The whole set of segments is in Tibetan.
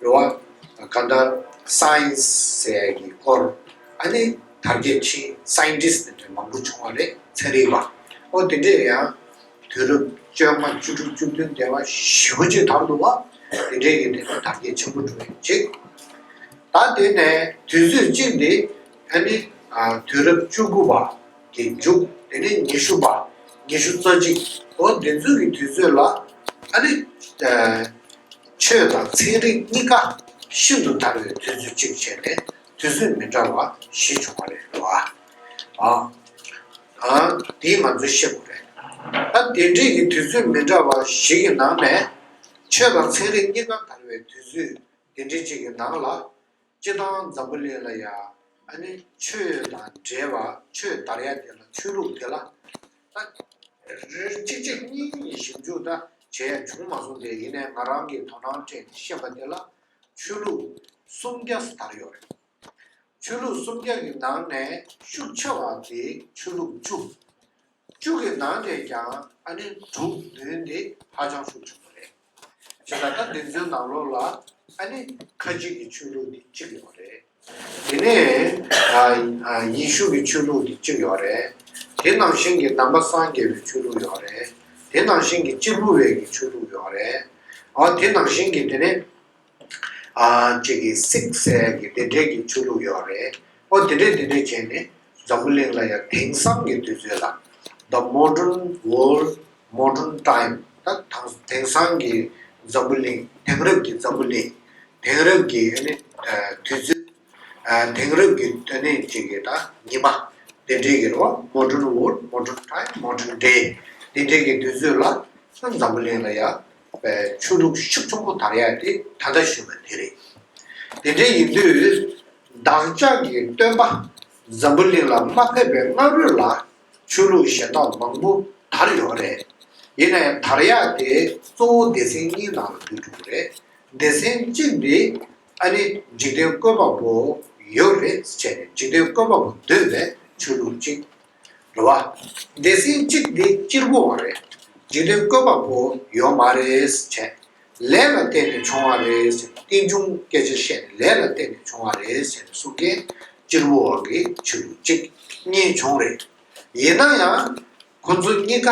འགྲོ་བ་དང་གང་འདྲ Science ཟེར་ཡས་ཀྱི་སྐོར་ཨ་ནི་དར་རྒྱས་ཕྱིན Scientist དེ་འདྲ་མང་པོ་བྱུང་བ་རེད་ཚན་རིག་པ་ཨོ་དེ་འདྲས་ཡང་དུས་རབས་བཅོ་ལྔ་བཅུ་དྲུག་བཅུ་བདུན་འདས་པ་བཞི་བོ་བཅས་དར་འདུག་བ་དེ་འདྲས་ཀྱི་དེ་འདྲ་དར་རྒྱས་ཆེན་པོ་འགྲོ་ཡི་གཅིག་ད་དེ་ནས་དུས་ཚོད་གཅིག་འདི་ཨ་ནི་དུས་རབས་བཅུ་དགུ་པ་དེ་མཇུག་དེ་ནས་ཉི་ཤུ་པ་ཉི་ཤུ་རྩ་གཅིག་ཨོ་དེ་ཚོའི་ཀྱི་དུས་ཚོད་ལ་ཨ་ནི། ཆོས་དང་ཚན་རིག་གཉིས་ཀ་ཤིན་ཏུ་དར་བའི་དུས་ཚོད་ཅིག་བྱས་ནས་དུས་ཚོད་མི་འདྲ་བ་བཞི་བྱུང་བ་རེད་འདུག་ཨ། ཨང། དེ་ང་ཚོས་ཤེས་དགོས་རེད། ད་དེ་འབྲེལ་གྱི་དུས་ཚོད་མི་འདྲ་བ་བཞི་གི་ནང་ནས། ཆོས་དང་ཚན་རིག་གཉིས་ཀ་དར་བའི་དུས་ཚོད་དེ་འབྲེལ་གཅིག་གི་ནང་ལ། སྤྱི་དང་འཛམ་བུ་ལས་ལ་ཡ། ཨ་ནི་ཆོས་དང་འབྲེལ་བ་ཆོས་དར་ཡ་དེ་ལ་ཆོས་ལུགས་དེ་ལ་ད། རེ་གཅིག་རྗེ་གཉིས་གཉིས་ཞིབ་འཇུག་ད་བྱས་ཡ་བྱུང་མ་སོང་དེ་ཡིན་ནའི་ང་རང་གིས་དོ་སྣང་སྤྲད་དེ་ཤེས་པ་དེ་ལ་ཆོས་ལུགས་སུམ་བརྒྱ་དར་ཡོད་རེད། ཆོས་ལུགས་སུམ་བརྒྱ་གི་ནང་ནས་ཤུགས་ཆེ་བ་དེ་ཆོས་ལུགས་བཅུ། བཅུ་གི་ནང་ནས་ཀྱང་ཨ་ནེ་འབྲུག་མདུན་འདི་ཧ་ཅང་ཤུགས་ཆེན་པོ་རེད། ཇི་ལྟར་ན་འདི་ཚོའི་ནང་ལོགས་ལ་ཨ་ནེ་ཁ་གཅིག་གི་ཆོས་ལུགས་འདི་གཅིག་ཡོད་རེད། དེ་ནས་ཡེ་ཤུ་གི་ཆོས་ལུགས་འདི་གཅིག་ཡོད་རེད། དེ་ནང་བཞིན་གྱི་དམ་པ་སངས་རྒྱས་པའི་ཆོས་ལུགས་ཡོད་རེད། དེ་ནང་བཞིན་གྱི་གཅེར་བུ་བའི་གི་ཆོས་ལུགས་ཡོད་རེད། དེ་ནང་བཞིན་གྱི་དེ་ནས་ཅིག་གིས་སིག་གསལ་གྱི་བདེ་འབྲས་ཀྱི་ཆོས་ལུགས་ཡོད་རེད། ཨོ་དེ་འདྲས་དེ་འདྲས་བྱས་ནས་འཛམ་བུ་གླིང་ལ་ཡང་དེང་སང་གི་དུས་ཚོད་ལ The Modern World Modern Time ད་དང་དེང་སང་གི་འཛམ་བུ་གླིང་དེང་རབས་ཀྱི་འཛམ་བུ་གླིང་དེང་རབས་ཀྱི་དུས་ཚོད་དེང་རབས་ཀྱི་དོན་གནད་ཅིག་གི་ད་ཉི་མ་བདེ་འབྲས་ཀྱི་རོ Modern World Modern Time Modern Day དེ་འདྲས་ཀྱི་དུས་ཚོད་ལ་ད་འཛམ་བུ་གླིང་ལ་ཡང་པའི་ཆོས་ལུགས་ཤུགས་ཆུང་པོ་དར་ཡག་དེ་ད་ལྟ་བཞུགས་པ་དེ་རེད། དེ་འདྲའི་ཡིན་དུས། བདག་ཅག་གི་སྟོན་པ་འཛམ་བུ་གླིང་ལ་མ་ཕེབས་པའི་སྔ་རོལ་ལ་ཆོས་ལུགས་གཞན་དག་མང་པོ་དར་ཡོད་རེད། ཡིན་ནའི་དར་ཡག་དེ་གཙོ་བོ་སྡེ་ཚན་གཉིས་ནང་ལ་འདུས་འགྲོ་གི་རེད། སྡེ་ཚན་གཅིག་འདི་ཨ་ནི་འཇིག་རྟེན་བཀོད་པ་པོ་ཡོད་རེད་བྱས་ནས་འཇིག་རྟེན་བཀོད་པ་པོ་འདོད་པའི་ཆོས་ལུགས་གཅིག། རེད་བ། སྡེ་སྲིད་གཅིག་འདི་སྤྱིར་བོ་བ་རེད། རྗེས་དོན་བཀོད་པ་བོ་ཡོད་མ་རེད་བྱས། ལས་ལ་བརྟེན་ནས་བྱུང་བ་རེད་ཟེར་ནས་རྟིང་འབྱུང་སྐད་ཆ་བཤད་ནས་ལས་ལ་བརྟེན་ནས་བྱུང་བ་རེད་ཟེར་ནས་གསུང་མཁན་སྤྱིར་བོ་བ་གི་ཆོས་ལུགས་གཅིག་གཉིས་བྱུང་རེད། ཡིན་ན་ཡང་ཁོང་ཚོ་གཉིས་ཀ་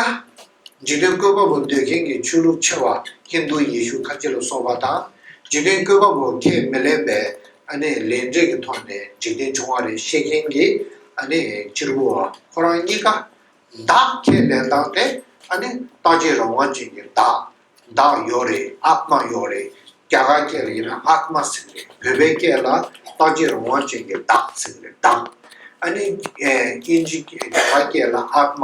འཇིག་རྟེན་བཀོད་པ་པོ་འདོད་མཁན་གྱི་ཆོས་ལུགས་ཆེ་བ་ཧིན་དྷུ་ཡེ་ཤུ་ཁ་ཆེ་ལ་སོགས་པ་དང་འཇིག་རྟེན་བཀོད་པ་པོ་ཁས་མི་ལེན་པའི་ཨ་ནི་ལས་འབྲས་ཀྱི་ཐོག་ནས་འཇིག་རྟེན་བྱུང་བ་རེད་བཤད་མཁན་གྱི་ཨ་ནི་སྤྱིར་བུ་བ་ཁོ་རང་གཉིས་ཀ་བདག་ཁས་ལེན་སྟངས་དེ་ཨ་ནི་རྟགས་ཆད་རང་དབང་ཅན་གྱི་བདག་བདག་ཡོད་རེད་ཨཱཏྨ་ཡོད་རེད་རྒྱ་གར་སྐད་ལ་ཡིན་ན་ཨཱཏྨ་ཟེར་རེད་བོད་པའི་སྐད་ལ་རྟགས་ཆད་རང་དབང་ཅན་གྱི་བདག་ཟེར་རེད་བདག་ཨ་ནི་ཨིན་ཇི་རྒྱ་གར་སྐད་ལ་ཨཱཏྨ་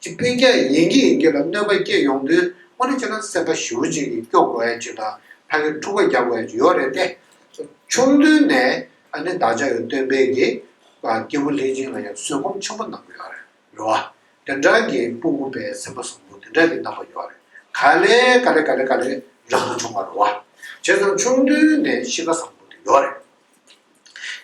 གཅིག་དཔེ་རྒྱ་ཡན་གྱི་ཡན་གྱི་ལ་གནོད་པ་སྐྱེ་ཡོང་དུས་སྔོན་འགྲོ་བྱས་ན་སེམས་པ་ཞི་བོ་ཅན་གྱིས་སྐྱོབ་དགོས་ཡ་ཆུ་དང་ཐག་གིས་འཁྲུག་པ་རྒྱག་དགོས་ཡ་ཆུ་ཡོད་རེད་དེ། ཆུང་དུས་ནས་ཨ་ནེ་བདག་ཅག་ཡོད་སྟོན་པས་ཀྱི་སྐྱེས་བུ་ལྷས་སྦྱིན་ལ་ཡང་བཟོད་སྒོམ་ཆེན་པོ་གནང་དགོས་ཡ་རེད་བ། དེ་འདྲ་གྱི་སྤུ་མགུ་པའི་སེམས་པ་བཟང་པོ་དེ་འདྲ་གྱི་གནང་བ་ཡོད་རེད་ག་ལེ་ག་ལེ་ག་ལེ་ག་ལེ་རང་དུ་བྱུང་བ་རེད་བ། བྱས་ཙང་ཆུང་དུས་ནས་གཤིས་ཀ་བཟང་པོ་དེ་ཡོད་རེད།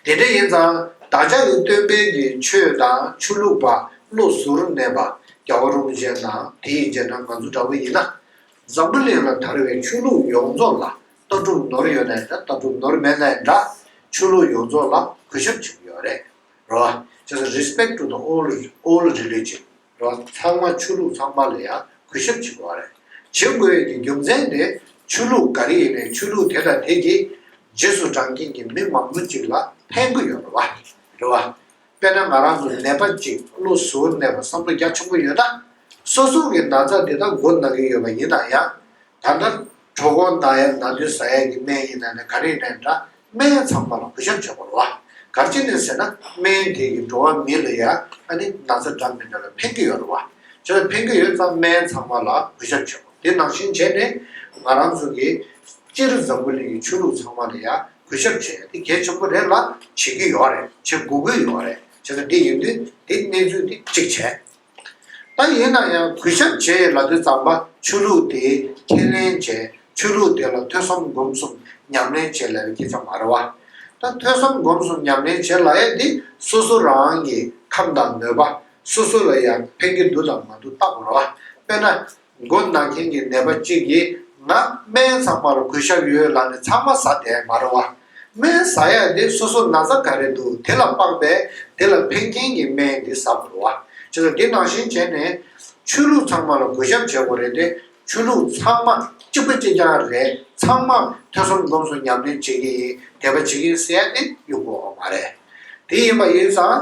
དེ་འདྲ་ཡིན་ཙང་བདག་ཅག་གི་སྟོན་དཔལ་གྱི་ཆོས་དང་ཆོས་ལུགས་པ་བློ་ཟུར་མེད་པ་རྒྱ་བོ་རུ་བཞེད་ན་དེ་ཡི་རྗེས་འབྲང་ང་ཚོ་འདྲ་བོ་ཡིན་ན། འཛམ་བུ་གླིང་ལ་དར་བའི་ཆོས་ལུགས་ཡོངས་རྫོགས་ལ་ལྟ་གྲུབ་ནོར་ཡོད་ནའི་འདྲ་ལྟ་གྲུབ་ནོར་མེད་ནའི་འདྲ་ཆོས་ལུགས་ཡོངས་རྫོགས་ལ་གུས་ཞབས་བྱེད་ཀྱི་ཡོད་རེད་རོ། རྗེས་སུ Respect to the all Religion། རོ། ཚང་མ་ཆོས་ལུགས་ཚང་མ་ལ་ཡང་གུས་ཞབས་བྱེད་དགོས་རེད། བྱེད་དགོས་ཡོད་ཀྱི་རྒྱུ་མཚན་དེ་ཆོས་ལུགས་ག་རེ་ཡིན་ནའི་ཆོས་ལུགས་དེ་དང་དེ་གྱིས་རྗེས་སུ་འབྲང་མཁན་གྱི་མི་མང་པོ་ཅིག་ལ་ཕན་གི་ཡོད་པ་རེད། དཔེར་ན་ང་རང་ཚོ་ནད་པ་ཅིག་བློ་ཟུར་ནས་པ་བསམ་བློ་རྒྱ་ཆུང་པོ་ཡོད་ན། སོ་སོ་གི་ན་ཚ་དེ་དག་མགོ་ན་གི་ཡོད་པ་ཡིན་ན་ཡང། ད་ལྟ་གྲོ་གོང་མདའ་ཡས་མདའ་མདུད་ཟ་ཡས་ཀྱི་སྨན་ཡིན་ན་ནི་ག་རེ་ཡིན་ན་འདྲ་སྨན་ཚང་པ་ལ་གུས་ཞབས་བྱེད་དགོས་རོ། གར་ཅི་ནས་ཟེར་ན་སྨན་དེ་ཡིས་འགྲོ་བ་མི་ལ་ཡ་ཨ་ནི་ན་ཚ་འདྲ་མི་འདྲ་ལ་ཕན་གྱི་ཡོད་རོ། བྱས་ཙང་ཕན་གྱི་ཡོད་ཙང་སྨན་ཚང་པ་ལ་གུས་ཞབས་བྱེད་དགོས་དེ་ནང་བཞིན་བྱས་ནས་ང་རང་ཚོ་གི་སྤྱིར་འཛམ་བུ་གླིང་གི་ཆོས་ལུགས་ཚང་མ་ལ་ཡ་གུས་ཞབས་བྱེད་ཡ་དེ་གལ་ཆེན་པོ་རེད་ལ་བྱེད་ཀྱི་ཡོད་རེད་བྱེད་དགོས་ཀྱི་ཡོད་རེད་བྱས་ཙང་དེ་ཡིན་དུས་དེ་གནས་ཚུལ་དེ་གཅིག་བྱས། ད་ཡིན་ན་ཡང་གུས་ཞབས་རྗེས་ལ་དུས་བརྩམས་པ་ཆོས་ལུགས་དེ་ཁས་ལེན་བྱས་ཆོས་ལུགས་དེ་ལ་ཐོས་བསམ་སྒོམ་གསུམ་ཉམས་ལེན་བྱེད་ལས་པའི་སྐྱེས་ཆ་མ་ར་བ། ད་ཐོས་བསམ་སྒོམ་གསུམ་ཉམས་ལེན་བྱེད་ལ་ཡས་དེ་སོ་སོ་རང་གི་ཁམས་དང་མོས་པ་སོ་སོ་ལ་ཡང་ཕན་གྱི་འདུག་དང་མ་འདུག་བརྟག་དགོས་ར་བ། དཔེར་ན། མགོ་ན་མཁན་གྱི་ནད་པ་གཅིག་གིས་ང་སྨན་ཚང་མར་གོས་ཞབས་ཡོད་ལབ་ནས་ཚང་མ་ཟ་བསྡད་མ་རུང་བ། སྨན་ཟ་ཡ་དེ་སོ་སོ་ན་བཟའ་ག་རེ་འདུག་དེ་ལ་དཔག་པས་དེ་ལ་ཕན་མཁན་གྱི་སྨན་དེ་ཟ་དགོས་རུང་བ། ཅེས་སོགས་དེ་ནང་བཞིན་བྱས་ནས། ཆོས་ལུགས་ཚང་མ་ལ་གོས་ཞབས་བྱེད་དགོས་རེད་དེ་ཆོས་ལུགས་ཚང་མ་གཅིག་པ་གཅིག་རྐྱང་རེད་ཚང་མ་ཐོས་བསམ་སྒོམ་གསུམ་ཉམས་ལེན་བྱེད་ཀྱི་ཡིན་དད་པ་བྱེད་ཀྱི་ཡིན་ཟེར་ཡ་དེ་ཡོད་དགོས་བ་མ་རེད། དེ་ཡིན་པ་ཡིན་ཙང།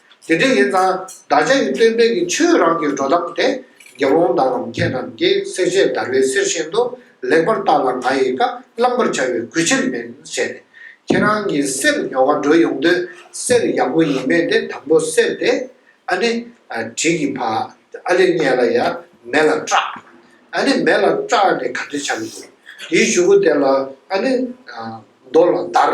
དེ་འདྲ་ཡིན་ཙང་བདག་ཅག་གི་སྟོན་པས་ཀྱི་ཆོས་རང་གི་འགྲོ་སྟངས་དེ་དགེ་སློང་དག་ལམ་ཁྱེད་རྣམས་ཀྱིས་གསེར་ཆས་བརྡར་བའི་གསེར་བཞིན་དུ་ལེགས་པར་བརྟགས་ལ་ང་ཡི་བཀའ་བླང་པར་བྱ་བའི་གུས་ཕྱིར་མིན་བྱས་ནས་ཁྱེད་རང་གི་གསེར་ཉོ་བར་འགྲོ་ཡོང་དུས་གསེར་ཡག་པོ་ཡིན་མེད་དེ་དང་པོ་སེལ་ཏེ། ཨ་ནི། བྲིས་ཀྱི་ཕ། ཨ་ལེ་རྙེད་ལ་ཡ། མེ་ལ་སྐྲག། ཨ་ནི་མེ་ལ་སྐྲག་ནས་ག་དུས་བྱ་གི་འདུག་དེའི་གཞུ་བུ་དེ་ལ་ཨ་ནི། རྡོ་ལ་བརྡར།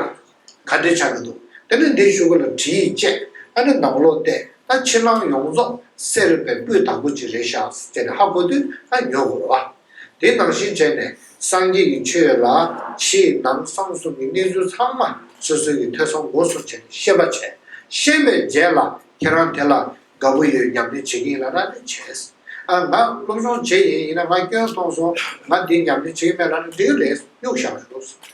ག་འདྲེ་ཆགས་ཀྱི་འདུག་དེ་ནས་འདི་བཞུགས་ལ་དྲི་ཡིས་དཔྱད། ད་ནི་ནང་ལོག་བལྟས་ད་ཕྱི་ནང་ཡོངས་རྫོགས་སེ་རུ་པའི་སྤུའི་དང་པོ་གཅིག་རེ་བཞག་ཟེར་ནས་ཧ་གོ་དུས་ད་ཉོ་དགོས་ལ། དེ་ནང་བཞིན་བྱས་ནས་སངས་རྒྱས་ཀྱི་ཆོས་ཡོད་ལ་ཕྱིའི་ནང་གསང་གསུམ་གྱི་གནས་ཚུལ་ཚང་མ་སོ་སོའི་ཀྱི་ཐོས་བསམ་སྒོ་སོགས་བྱས་ནས་ཤེས་པ་བྱས་ཤེས་པའི་རྗེས་ལ་ཁྱེད་རང་དེ་ལ་དགའ་པོ་ཡོད་སྙམ་ནས་བྱེད་ཀྱི་ཡིན་ལ་ར་འདི་བྱས། ཨ་ང་སློབ་སྦྱོང་བྱེད་ཡིན་ཡིན་ན་ང་སྐྱོན་མཐོང་སོང་ང་འདི་སྙམ་ནས་བྱེད་ཀྱི་མེད་ལ་ར་འདི་རེད་གཡུག་བཞག་ཞོག།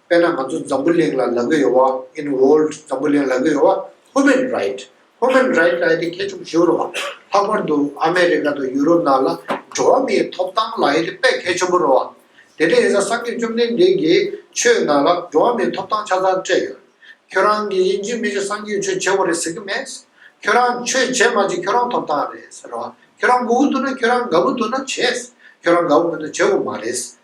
དཔེར་ན་ང་ཚོ་འཛམ་བུ་གླིང་ལ་ལག་གི་ཡོལ་བ in world འཛམ་བུ་གླིང་ལག་གི་ཡོལ་བ Human Right Human Right ལ་ཨེ་དེ་ཁྱད་ཆོས་ཞིག་རུ་བ། ལྷག་པར་དུ་ཨ་མེ་རི་ཀ་དང་ཡུ་རོབ་ནང་ལ་འགྲོ་བ་མིའི་ཐོབ་ཐང་ལ་ཨེ་དེ་དཔེ་ཁྱད་ཆོས་པོ་རུ་བ། དེ་འདྲའི་ཡིན་ས་སངས་རྒྱས་བཅོམ་ལྡན་འདས་ཀྱིས་ཆོས་ནང་ལ་འགྲོ་བ་མིའི་ཐོབ་ཐང་ཆ་ཚང་སྤྲད་ཡོད། ཁྱོད་རང་གིས་དབྱིན་ཇིའི་མི་ཞིག་སངས་རྒྱས་ཆོས་བྱེད་བོ་རེད་ཟེར་གི་མེད། ཁྱོད་རང་ཆོས་བྱེད་མ་བྱེད་ཁྱོད་རང་ཐོབ་ཐང་རེད་ཟེར་བ། ཁྱོད་རང་མགོ་བོ་བཏུར་ན་ཁྱོད་རང་དགའ་བོ་བཏུར་ན་བྱེད། ཁྱོད་རང་དགའ་བོ་མེད་ན་བྱེད་བོ་མ་རེད།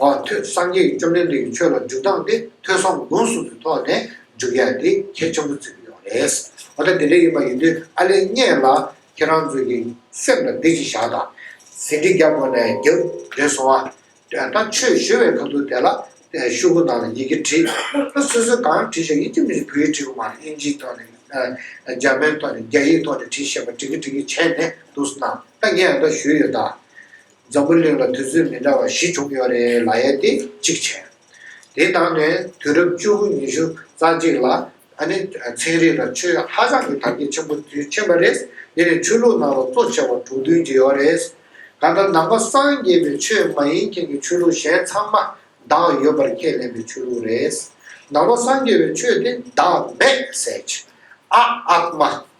འོ་ཐོས་སངས་རྒྱས་བཅོམ་ལྡན་འདས་ཀྱི་ཆོས་ལ་འཇུག་སྟངས་དེ་ཐོས་བསམ་སྒོམ་གསུམ་གྱི་ཐོག་ནས་འཇུག་ཡ་དེ་གལ་ཆེན་པོ་བརྩི་གི་ཡོད་རེད། འོ་ད་དེ་འདྲ་ཡིན་པ་ཡིན་དུས་ཨ་ལེ་བརྙས་ལ་ཁྱེད་རང་ཚོས་ཀྱི་སེམས་ལ་བདེ་སྐྱིད་བཞག་དང། ཟིན་བྲིས་རྒྱབ་སྒོ་ནས་རྒྱབ་འགྲེལ་སོང་ཨ། ད་ཆོས་བཞོ་བའི་ག་འདུག་དེ་ལ་ཤུག་གུ་ནང་ལ་ཡི་གེ་བྲིས། ད་སོ་སོས་གང་བྲིས་ཤག་ཡིན་གྱི་མི་ཤིག་བོད་ཡིག་བྲིས་གི་མ་རེད་དབྱིན་ཇིའི་ཐོག་ནས་འཇར་མན་ཐོག་ནས་རྒྱ་ཡིག་ཐོག་ནས་བྲིས་ཤག་པ་བྲིས་གི་བྲིས་གི་བྱས་ནས་འདུག་སོང་ད་ངས་ད་ཞུས་ཡོད་ད། འཛམ་བུ་གླིང་ལ་དུས་ཚོད་མི་འདྲ་བ་བཞི་བྱུང་ཡོད་རེད་ལ་ཡ་དེ་གཅིག་བྱས། དེ་དང་ནི་དུས་རབས་བཅུ་དགུ་ཉི་ཤུ་རྩ་གཅིག་ལ་ད་ནི་ཚན་རིག་ལ་ཆོས་ཧ་ཅང་གི་དར་རྒྱས་ཆེན་པོ་དུས་ཆེན་པ་རེད་འདི་ནི་ཆོས་ལུགས་ནང་ལ་གཙོ་ཆེ་བ་དྲུག་བདུན་གྱི་ཡོད་རེད། གང་ལྟར་ནང་པ་སངས་རྒྱས་པའི་ཆོས་མ་ཡིན་མཁན་གྱི་ཆོས་ལུགས་གཞན་ཚང་མ་བདག་ཡོད་པར་ཁས་ལེན་པའི་ཆོས་ལུགས་རེད། ནང་པ་སངས་རྒྱས་པའི་ཆོས་དེ་བདག་མེད་ཟེར། ཨ་ཨག་མ།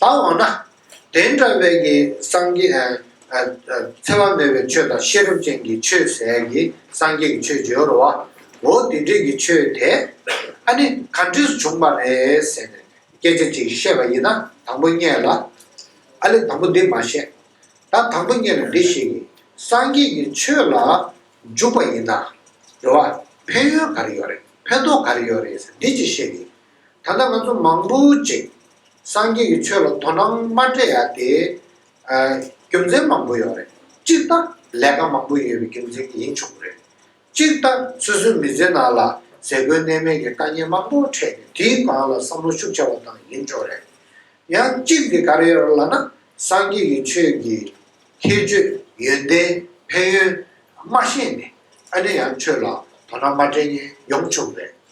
ད་འོ་ན། དེ་འདྲ་བས་ཀྱི་སངས་རྒྱས། འཚེ་བ་མེད་པའི་ཆོས་དང་ཤེས་རབ་ཅན་གྱི་ཆོས་ཟད་ཀྱི་སངས་རྒྱས་ཀྱི་ཆོས་བརྗོད་རོ། འོ་དེ་འདྲས་ཀྱི་ཆོས་དེ། ཨ་ནི་ག་འདྲས་སུ་བྱུང་བ་རེད་ཟེར་ནས་སྐད་ཆ་ཅིག་བཤད་པ་ཡིན་ན་དང་པོ་རྙེད་ལ། ཨ་ལས་དང་པོ་འདི་མ་བཤད། ད་དང་པོ་རྙེད་ལ་འདི་བཤད་ཀྱི། སངས་རྒྱས་ཀྱི་ཆོས་ལ་འཇུག་པ་ཡིན་ན། འགྲོ་བ་ཕན་ཡོན་ག་རེ་ཡོད་རེད་ཕན་ཐོགས་ག་རེ་ཡོད་རེད་ཟེར་འདི་ཅིག་བཤད་ཀྱི། ད་ལྟ་ང་ཚོ་མང་པོ་ཅིག་སངས་རྒྱས་ཀྱི་ཆོས་ལ་དོ་སྣང་མ་སྤྲད་ཡ་དེ། རྒྱུ་མཚན་མང་པོ་ཡོད་རེད། གཅིག་ལྟ་ལས་ཀ་མང་པོ་ཡོད་པའི་རྒྱུ་མཚན་གྱིས་ཡིན་ཆོག་གི་རེད། གཅིག་ལྟ་སོ་སོའི་མི་ཚེ་ནང་ལ་ཟས་གོས་གནས་མལ་གྱི་དཀའ་ཉེན་མང་པོ་འཕྲད་ནས་དེའི་སྒང་ལ་བསམ་བློ་ཤུགས་ཆེ་བ་དང་ཡིན་ཆོག་རེད། ཡང་གཅིག་གི་ག་རེ་ཡོད་རེད་ལ་ན་སངས་རྒྱས་ཀྱི་ཆོས་ཀྱི་ཁྱད་ཆོས་ཡོན་ཏན་ཕན་ཡོན་མ་ཤེས་ནས་ཨ་ནེ་ཡང་ཆོས་ལ་དོ་སྣང་མ་སྤྲད་མཁན་ཡོང་ཆོག་གི་རེད།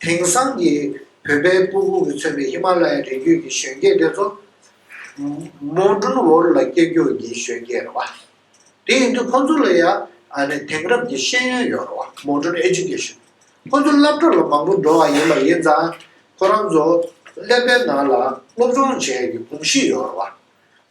དེང་སང་གི་བོད་པའི་སྤུ་ཧུ་རུ་མཚོན་པའི་ཧི་མ་ལ་ཡའི་རི་རྒྱུད་ཀྱི་གཞོན་སྐྱེས་དེ་ཚོ། མོ་སྒྲུང་བོར་ལ་སྐྱེ་རྒྱུར་གྱི་གཞོན་སྐྱེས་རེད་བ། དེ་ཡིན་དུས་ཁོ་ཚོ་ལ་ཡང་དེང་རབས་ཀྱི་ཤེས་ཡོན་ཡོད་རེད་བ་མོ་སྒྲུང Education། ཁོ་ཚོ་སླབ་གྲྭ་ལ་མང་པོ་འགྲོ་བ་ཡིན་པ་ཡིན་ཙང་ཁོ་རང་ཚོ་ཀླད་པའི་ནང་ལ་སློབ་སྦྱོང་བྱས་ཀྱི་གོམས་གཤིས་ཡོད་རེད་བ།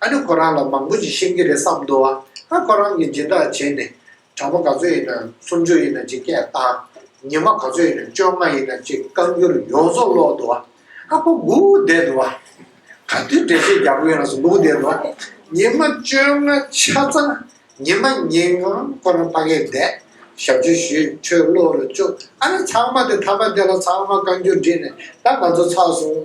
ཨ་ནི་ཁོ་རང་ལ་མང་པོ་ཞིག་ཤེས་ཀྱི་རེད་བསམ་འདུག་ཨ་ཁོ་རང་གིས་སྦྱིན་བདག་བྱས་ནས་གྲངས་པ་ག་ཚོད་ཡིན་ནམ་སུམ་ཅུ་ཡིན་ན་ཅིག་སྐད་བཏང། ཉི་མ་ག་ཚོད་ཡིན་ནམ་བཅོ་ལྔ་ཡིན་ན་ཅིག་བཀའ་འགྱུར་ཡོངས་རྫོགས་ཀློག་འདུག་ཨ་ཁོ་སྒུག་བསྡད་འདུག་ཨ། ག་དུས་འགྲེལ་བཤད་རྒྱག་པ་ཡོད་ན་སུ་སྒུག་བསྡད་འདུག་ཨ། ཉི་མ་བཅོ་ལྔ་ཆ་ཚང་ཉི་མ་ཉིན་གང་ཁོ་རང་ཕ་གས་བསྡད། ཞབས་ཕྱི་ཞུས་ཁྲོད་ཀློག་རུ་བཅུག་ཨ་ནི་ཚང་མ་དེ་ཐ་མ་དེ་ལ་ཚང་མ་བཀའ་འགྱུར་བྲིས་ནས་ད་ང་ཚོ་ཚར་སོང།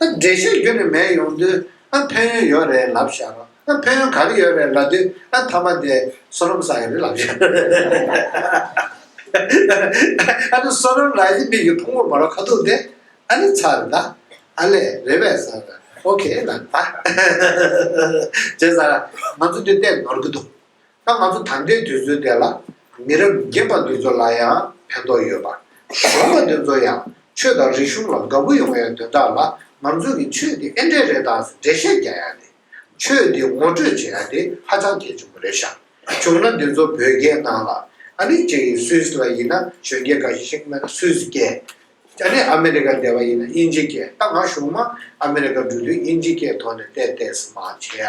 ཨ་འགྲེལ་བཤད་རྒྱུ་ནི་མེད་ཡོང་དུས་ཨ་ཕན་ཡོན་ཡོད་རེད་ལབ་བཞག་རོགས་ཨ་ཕན་ཡོན་ག་རེ་ཡོད་རེད་ལབ་དུས་ཨ་མཐའ་མ་དེ་སོ་རོམ་ས་ཡོད་རེད་ལབ་བཞག་ཨ་ནི་སོ་རོམ་རང་ཡིན་མིག་གི་ཕུང་བོ་མ་རོ་ཁ་ཐུག་དེ་ཨ་ནི་ཚར་རེད་ད་ཨ་ལས་རེད་བས་ས་རེད་ཨོ་ཁེ་ལ་ད་བྱས་ས་ར་ང་ཚོ་འདི་བལྟས་ནོར་གི་འདུག་ད་ང་ཚོ་ད་ལྟའི་དུས་ཚོད་དེ་ལ་མི་རབས་རྒན་པ་འདི་ཚོ་ལ་ཡང་ཕན་ཐོགས་ཡོད་པ། གཞོན་པ་འདི་ཚོ་ཡང་ཆོས་དང་རིག་གཞུང་ལ་དགའ་པོ་ཡོང་ཡ་དོན་དག་ལ་ང་ཚོ་གི་ཆོས་འདི་ཨེ་འདྲས་རེད་དག་སུ་འགྲེལ་བཤད་རྒྱག་ཡ་དེ། ཆོས་འདི་ངོ་སྤྲོད་བྱེད་ཡ་དེ་ཧ་ཅང་གལ་ཆེན་པོ་རེད་ཤག་བྱུང་ན་འདི་ཚོ་བོད་རྒྱའི་ནང་ལ་ཨ་མི་རྗེ་ཡི་སུས་ལ་ཡིན་ན་གཞོན་སྐྱེས་འགའ་ཞིག་ཤིག་ན་སུས་སྐྱེས་ཨ་ནི་ཨ་མི་རི་ཀ་འདས་པ་ཡིན་ན་དབྱིན་ཇི་སྐྱེས་ད་ང་གཞུང་མ་ཨ་མི་རི་ཀ་འགྲོ་དུས་དབྱིན་ཇི་སྐྱེས་ཐོག་ནས་བལྟས་བལྟས་སུ་མ་བྱེད་ཡ་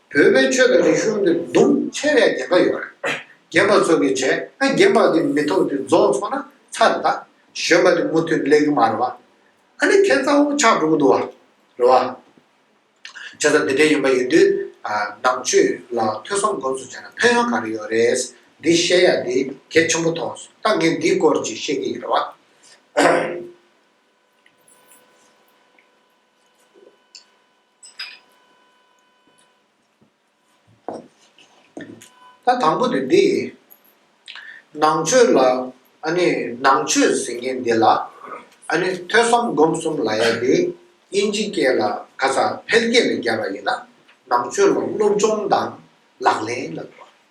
བོད་པའི་ཆོས་དང་རིག་གཞུང་འདི་རྡུང་ཆེ་རེག་བརྒྱན་པ་ཡོད་རེད། བརྒྱན་པ་ཚོ་གི་བྱས་ན་བརྒྱན་པ་འདི་མི་ཐུབ་འདི་རྫོགས་ཚོགས་ན་ཚར་རེ་ད། གཞོན་པ་འདི་མུ་མཐུད་ལེགས་ཀྱི་མ་རེད་བ། ཨ་ནི་ཁྱེད་རྩ་བོ་ཆགས་འགྲོ་གི་འདུག་བ། རེད་བ། ཆོས་དང་འདི་འདྲའི་ཡོན་པ་ཡོད་དུས། ནང་ཆོས་ལ་ཐོས་བསམ་སྒོམ་གསུམ་བྱས་ན་ཕན་ཡོན་ག་རེ་ཡོད་རེད། འདི་བཤད་ཡ་འདི་གལ་ཆེན་པོ་མཐོང། ད་ངས་འདིའི་སྐོར་ཅིག་བཤད་ཀྱི་ཡིན་རེད་བ། ད་དང་པོ་དེ་འདི་ཡིན། ནང་ཆོས་ལ་ཨ་ནི་ནང་ཆོས་ཟེར་མཁན་འདི་ལ་ཨ་ནི་ཐོས་བསམ་སྒོམ་གསུམ་ལ་ཡ་འདི་དབྱིན་ཇི་སྐད་ལ་ག་ས་འཕེལ་རྒྱས་ལ་རྒྱབ་པ་ཡིན་ན་ནང་ཆོས་ལ་སློབ་སྦྱོང་དང་ལག་ལེན་ལ་འགྲོ་བ་ཡིན།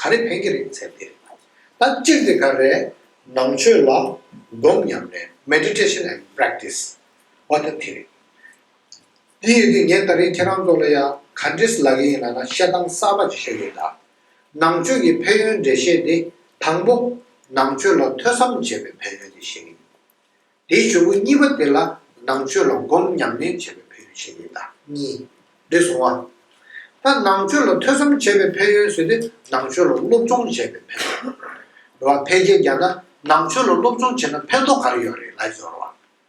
ག་རེ་ཕན་གྱི་རེད་ཚད་དེ་ད་སྤྱིར་དེ་ག་རེ་ནང་ཆོས་ལ་སྒོམ་ཉམས་ནས Meditation and Practice བ་ད་དེ་རེད་དེ་ཡོད་དུས་ངས་ད་རིང་ཁྱེད་རང་ཚོ་ལ་ཡང་ག་འདྲི་ས་ལ་གི་ཡིན་ལ་ན་བཤད་སྟངས་གསར་པ་ཅིག་ཤོད་ཡོད་ད་ནང་ཆོས་ཀྱི་ཕན་ཡོན་འགྲེལ་བཤད་དེ་དང་པོ་ནང་ཆོས་ལ་ཐོས་བསམ་བྱེད་པའི་ཕན་ཡོན་དེ་ཤེས་གི་ཡིན་དེའི་ཆོས་སྐུ་གཉིས་པ་དེ་ལ་ནང་ཆོས་ལ་སྒོམ་ཉམས་ལེན་བྱེད་པའི་ཕན་ཡོན་ཆེ་ཡོད་ད་གཉིས། རེ་ཟུང་བ། ད་ནང་ཆོས་ལ་ཐོས་བསམ་བྱེད་པའི་ཕན་ཡོན་ཟེར་ཏེ་ནང་ཆོས་ལ་སློབ་སྦྱོང་བྱེད་པའི་ཕན་ཡོན། རེ་བ་ཕལ་ཆེར་རྒྱ་ན་ནང་ཆོས་ལ་སློབ་སྦྱོང་བྱེད་ན་ཕན་ཐོགས་ག་རེ་ཡོད་རེད་ལབ་ཟེར་བ།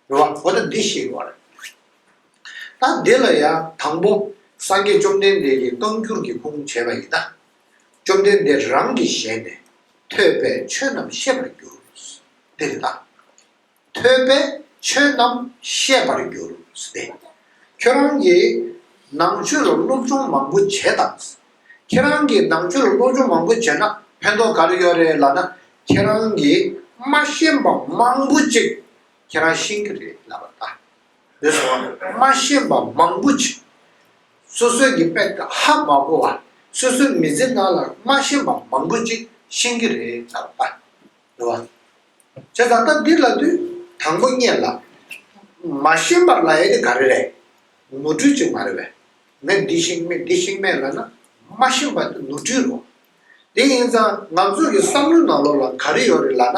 རེ་བ་གོ་བརྡ་འདི་ཤེས་དགོས་རེད། ད་འདི་ལ་ཡང་དང་པོ་སངས་རྒྱས་བཅོམ་ལྡན་འདས་ཀྱིས་བསྐངས་གྱུར་གྱི་ཁུངས་བྱས་པ་ཡིན་ན། བཅོམ་ལྡན་འདས་རང་གི་ཞལ་ནས་ཐོས་པས་ཆོས་རྣམས་ཤེས་པར་འགྱུར། འདི་རེ་ད། ཐོས་པས་ཆོས་རྣམས་ཤེས་པར་འགྱུར་ཏེ། ཁྱོད་རང་གིས་ནང་ཆོས་ལ་སློབ་སྦྱོང་མང་པོ་བྱས་དང། ཁྱེད་རང་གིས་ནང་ཆོས་ལ་སློབ་སྦྱོང་མང་པོ་བྱས་ན་ཕན་ཐོགས་ག་རེ་ཡོད་རེད་ལབ་ན་ཁྱེད་རང་གིས་མ་ཤེས་པ་མང་པོ་ཅིག་ཁྱེད་རང་ཤེས་ཀྱི་རེད་ལབ་པ་ད། འདིར་སོང་ནས་སྨྲ་ཤེས་པ་མང་པོ་མཆིས། སོ་སོའི་གི་དཔེ་ད་ཧ་མ་གོ་བ་སོ་སོའི་མི་ཚེ་ནང་ལ་སྨྲ་ཤེས་པ་མང་པོ་ཅིག་ཤེས་ཀྱི་རེད་ཙང་པ་འདུག་བ། བྱས་ཙང་སྟབས་འདི་ལ་དུས་དང་པོ་གཉེས་ལ། མ་ཤེས་པར་ལ་ཡེ་དེ་ག་རེ་རེད་ནོར་འཁྲུལ་ཅིག་མ་རེད་བས། ངས་འདི་ཤེས་མེད་འདི་ཤེས་མེད་ལབ་ན་མ་ཤེས་པ་དེ་ནོར་འཁྲུལ་རོ། དེ་ཡིན་ཙང་ང་ཚོ་གི་བསམ་བློའི་ནང་ལོགས་ལ་ག་རེ་ཡོད་རེད་ལབ་ན།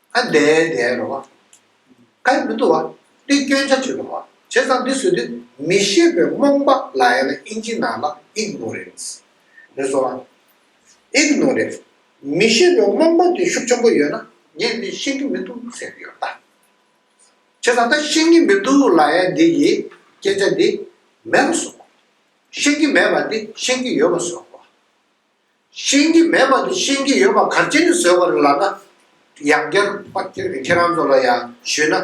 ཨ་འདས་འདས་འགྲོ་བ། ཨ་མི་འདུག་བ། འདི་སྐྱོན་ཆ་བྱོས་འགྲོ་བ། བྱས་ཙང་འདི་བཟོས་དུས་མི་ཤེས་པའི་རྨོངས་པ་ལ་ཡང་ན་ཨིན་ཇི་ནང་ལ Ignorance ནས་བཟོ་བ། Ignorance མི་ཤེས་པའི་རྨོངས་པ་དེ་ཤུགས་ཆེན་པོ་ཡོད་ན་ངས་འདི་ཤེས་ཀྱི་མི་འདུག་ཟེར་གྱི་ཡོད། བྱས་ཙང་ད་ཤེས་ཀྱི་མི་འདུག་ལ་ཡང་འདི་ཡི་སྐྱེན་ཆ་འདི་མེད་པ་བཟོ། ཤེས་ཀྱི་མེད་པ་འདི་ཤེས་ཀྱི་ཡོད་པ་བཟོ། ཤེས་ཀྱི་མེད་པ་དེ་ཤེས་ཀྱི་ཡོད་པ་གར་བྱེད་ནས་བཟོས་པ་རེད་ལགས་ན། ཡང་བསྐྱར་དཔག་ཐེར་གྱི་ཁྱེད་རང་ཚོ་ལ་ཡང་ཞུས་ན།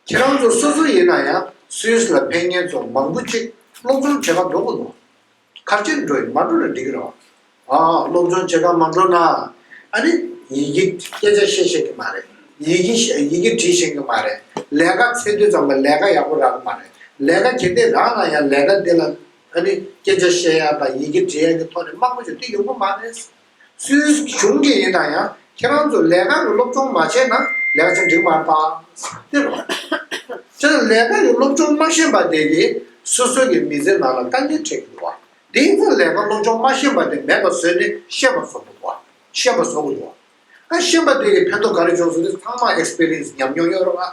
ཁྱེད་རང་ཚོ་སོ་སོ་ཡིན་ན་ཡང་སུས་ལ་ཕན་ངེད་ཚོ་མང་པོ་གཅིག་སློབ་སྦྱོང་བྱེད་ཁ་འགྲོ་དགོས་འདུག་གར་བྱེད་འགྲོ་ཡི་མ་འགྲོ་ལ་འགྲིག་གི་རེད། ཨ་ཨ་སློབ་སྦྱོང་བྱེད་ཁ་མ་འགྲོ་ན། ཨ་རེ། ཡི་གེ་སྐད་ཆ་བཤད་ཤེས་ཀྱི་མ་རེད། ཡི་གེ་ཡི་གེ་བྲིས་ཤེས་ཀྱི་མ་རེད། ལས་ཀ་ཚེ་དུས་ཙམ་ལ་ལས་ཀ་ཡག་པོ་རག་གི་མ་རེད། ལས་ཀ་གལ་ཏེ་རག་ན་ཡང་ལས་ཀ་འདི་ལ། ད་ནི་སྐད་ཆ་བཤད་ཡག་དང་ཡི་གེ་འབྲི་ཡག་གི་ཐོག་ནས་དམག་དཔོན་ཆོས་འདི་ཡོང་གི་མ་རེད། སུའི་གཞུང་གི་ཡིན་ན་ཡང་ཁྱེད་རང་ཚོ་ལས་ཀ་གི་སློབ་སྦྱོང་མ་བྱས་ན་ལེགས་ཆ་འགྲིག་མ་ཐག། དེ་ལ་ལས་ཀ་གི་སློབ་སྦྱོང་མ་ཤེས་པ་དེ་གིས་སོ་སོ་གི་མི་ཚེ་ནང་ལ་དཀའ་ངལ་འཕྲད་ཀྱི་འདུག་བ་དེ་ཡིན་ན་ལས་ཀ་སློབ་སྦྱོང་མ་ཤེས་པ་དེ་མེད་པ་བཟོས་ནས་ཤེས་པ་བཟོ་དགོས་བ་ཤེས་པ་བཟོ་དགོས་འདུག་བ། ཤེས་པ་དེ་གིས་ཕན་ཐོག་ག་རེ་བྱུང་སོང་དེ་ཚང་མ Experience ཉམས་མྱོང་ཡོད་རོགས་ཨ།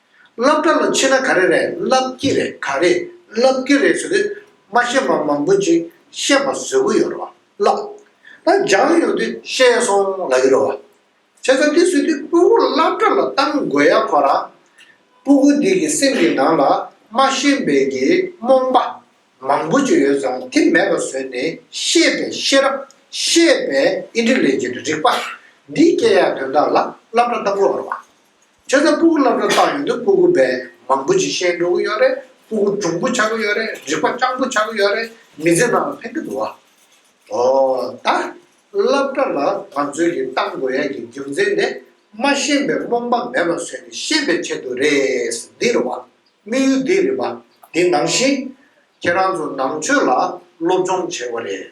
རླབས་སྒྲ་ལ་མཆི་ན་ག་རེ་རེད་རླབས་ཀྱི་རེད་ག་རེ་རླབས་ཀྱི་རེད་ཟེར་དུས་མ་བཤད་པ་མང་པོ་ཅིག་བཤད་པ་བཟོད་གི་ཡོད་རེད་བ་ལགས། ད་སྦྱང་ཡོང་དུས་ཤེས་སོང་ལ་ཡོད་རེད་བ། བྱས་ཙང་དེ་བཟོད་དུས་སྤུ་གུ་རླབས་སྒྲ་ལ་གཏང་དགོས་ཡ་ཁོ་རང། སྤུ་གུ་འདི་གི་སེམས་ཀྱི་ནང་ལ་མ་ཤེས་པའི་གི་རྨོངས་པ་མང་པོ་ཅིག་ཡོད་ཙང་དེ་མེད་པ་བཟོས་ནས་ཤེས་པའི་ཤེས་རབ་ཤེས་པའི་ཨིན་དྲི་ལས་ཀྱི་རིག་པ་འདི་སྐྱེ་ཡ་དོན་དག་ལ་རླབས་སྒྲ་གཏང་དགོས་བ་ལགས། ཁྱོད་ཚོ་སྤུ་གུ་སློབ་གྲྭར་བཏང་ཡོང་དུས་སྤུ་གུ་བལ་མང་པོ་ཅིག་བཤད་འགྲོ་གི་ཡོད་རེད་སྤུ་གུ་གྲུང་པོ་ཆགས་ཀྱི་ཡོད་རེད་རིག་པ་སྤྱང་པོ་ཆགས་ཀྱི་ཡོད་རེད་མི་ཚེ་ནང་ལ་ཕན་གི་འདུག་ཨ། འོ་ད། སློབ་གྲྭ་ལ་ང་ཚོས་ཀྱི་གཏང་དགོས་ཡ་གི་རྒྱུ་མཚན་དེ་མ་ཤེས་པའི་རྨོངས་པ་མེད་པ་བཟོས་ནས་ཤེས་པའི་ཆེད་དུ་རེད་འདི་རེད་བ་དམིགས་ཡུལ་འདི་རེད་བ་དེ་ནང་བཞིན་ཁྱེད་རང་ཚོ་ནང་ཆོས་ལ་སློབ་སྦྱོང་བྱས་པ་རེད།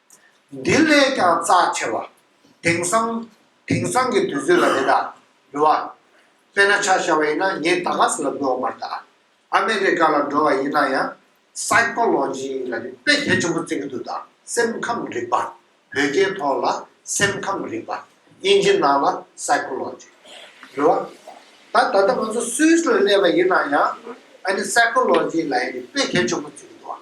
འདི་ལས་ཀྱང་རྩ་ཆེ་བ། དེང་སང། དེང་སང་གི་དུས་ཚོད་ལ་རེད་ད། འགྲོ་བ། དཔེར་ན་ཆ་བཞག་པ་ཡིན་ན་ངས་ད་ག་ས་ལ་འགྲོ་འོང་མར་ད། ཨ་མེ་རི་ཀ་ལ་འགྲོ་བ་ཡིན་ན་ཡང། Psychology། ལ་ནི་དཔེ་གལ་ཆེན་པོ་བརྩི་གི་འདུག་ད་སེམས་ཁམས་རིག་པ། བོད་སྐད་ཐོག་ལ་སེམས་ཁམས་རིག་པ། དབྱིན་ཇི་ནང་ལ Psychology། འགྲོ་བ། ད་ད་ལྟ་ང་ཚོ Swiss ལ་སླེབས་པ་ཡིན་ན་ཡང། ཨ་ནི Psychology ལ་ཡང་ནི་དཔེ་གལ་ཆེན་པོ་བརྩི་གི་འདུག་བ།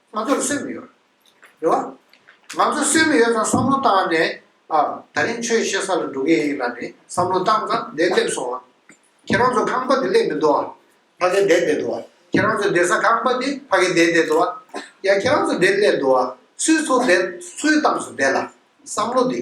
ང་ཚོར་སེམས་ཡོད། རེད་བ། ང་ཚོར་སེམས་ཡོད་ཙང་བསམ་བློ་བཏང་ནས་ཨ། ད་རིང་ཆོས་བཤད་ས་ལ་འགྲོ་གི་ཡིན་ལ་ནི་བསམ་བློ་བཏང་ཙང་བསྡད་སླེབས་སོང་ཨ། ཁྱེད་རང་ཚོ་ཁང་པ་འདི་སླེབས་མི་འདུག་ཨ། ཕ་གི་བསྡད་བསྡད་འདུག་ཨ། ཁྱེད་རང་ཚོ་བསྡད་ས་ཁང་པ་འདི་ཕ་གི་བསྡད་བསྡད་འདུག་ཨ། ཡ་ཁྱེད་རང་ཚོ་བསྡད་སླེབས་འདུག་ཨ། སུས་ཚོ་བསྡད་སུའི་གཏམ་སུ་བསྡད་ལ། བསམ་བློ་འདི།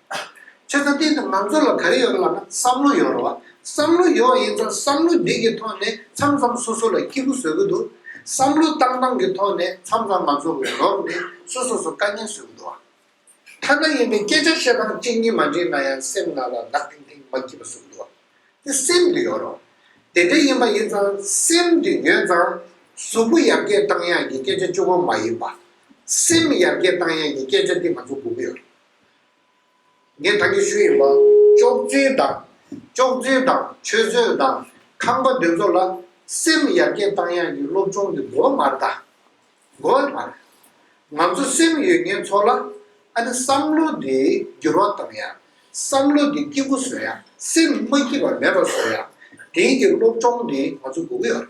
ཁྱོད་ཚོ་སྟེང་དུ་ང་ཚོ་ལ་ག་རེ་ཡོད་ལབ་ན་བསམ་བློ་ཡོད་རོགས་བསམ་བློ་ཡོད་ཡིན་ཙང་བསམ་བློ་འདི་གི་ཐོག་ནས་མཚམས་མཚམས་སོ་སོ་ལ་སྐྱིད་པོ་བཟོས་གི་འདུག་བསམ་བློ་བཏང་བཏང་གི་ཐོག་ནས་མཚམས་མཚམས་ང་ཚོ་འོས་ལོག་ནས་སོ་སོ་སོ་དཀའ་ངལ་བཟོས་གི་འདུག་ཐ་ན་ཡིན་པའི་སྐད་ཆ་བཤད་སྟངས་གཅིག་གཉིས་མ་འགྲིག་ན་ཡང་སེམས་ནང་ལ་ནག་ཐིང་ཐིང་མ་སྐྱིད་པ་བཟོས་གི་འདུག་དེ་སེམས་དུ་ཡོད་རོགས་དེ་འདྲ་ཡིན་པ་ཡིན་ཙང་སེམས་དུ་ཡོད་ཙང་གཟུགས་པོ་ཡར་རྒྱས་བཏང་ཡག་གི་སྐད་ཆ་ཅུང་བོ་མ་ཡིན་པ་སེམས་ཡར་རྒྱས་བཏང་ཡག་གི་སྐད་ཆ་འདི་ང་ཚོ་དགོས་གི་ཡོད་རེད། ངས་ད་གིན་ཞུ་ཡི་མ། ཅོག་རྫུན་དང། ཅོག་རྫུན་དང་ཆོས་རྫུན་དང་ཁང་པ་འདི་ཚོ་ལ་སེམས་ཡར་རྒྱས་བཏང་ཡག་གི་སློབ་ཆུང་གི་མགོ་མར་ད། མགོ་བ་མར། ང་ཚོ་སེམས་ཡོད་མཁན་ཚོ་ལ་ཨ་ནི་བསམ་བློ་འདི་འགྱུར་བ་བཏང་ཡག་བསམ་བློ་འདི་སྐྱིད་པོ་བཟོ་ཡག་སེམས་མ་སྐྱིད་པ་མེད་པ་བཟོ་ཡག་དེང་གི་སློབ་ཆུང་འདི་ང་ཚོ་འགོ་གི་ཡོད་རེད།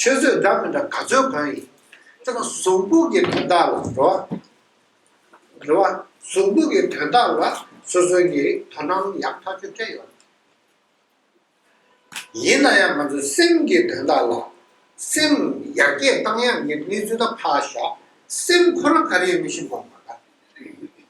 ཆོས་བཟོད་འདྲ་མི་འདྲ་ག་ཚོད་གང་ཡིན། དེ་ལ་གཟུངས་འབུག་གི་དོན་དག་ལ་འགྲོ་བ། འགྲོ་བ། གཟུངས་འབུག་གི་དོན་དག་ལ་སོ་སོའི་ངེས་རིག་དོ་སྣང་ཡང་དག་ཆོས་ཅན་ཡོད། ཡིན་ན་ཡང་ང་ཚོའི་སེམས་ཀྱི་དོན་དག་ལ། སེམས་ཡར་རྒྱས་བཏང་ཡང་ངེས་དོན་གནས་ཚུལ་དག་ཕ་ཞག་སེམས་ཁོ་ན་ག་རེ་ཡོད་མི་ཤེས་དགོངས་པ་འདྲ།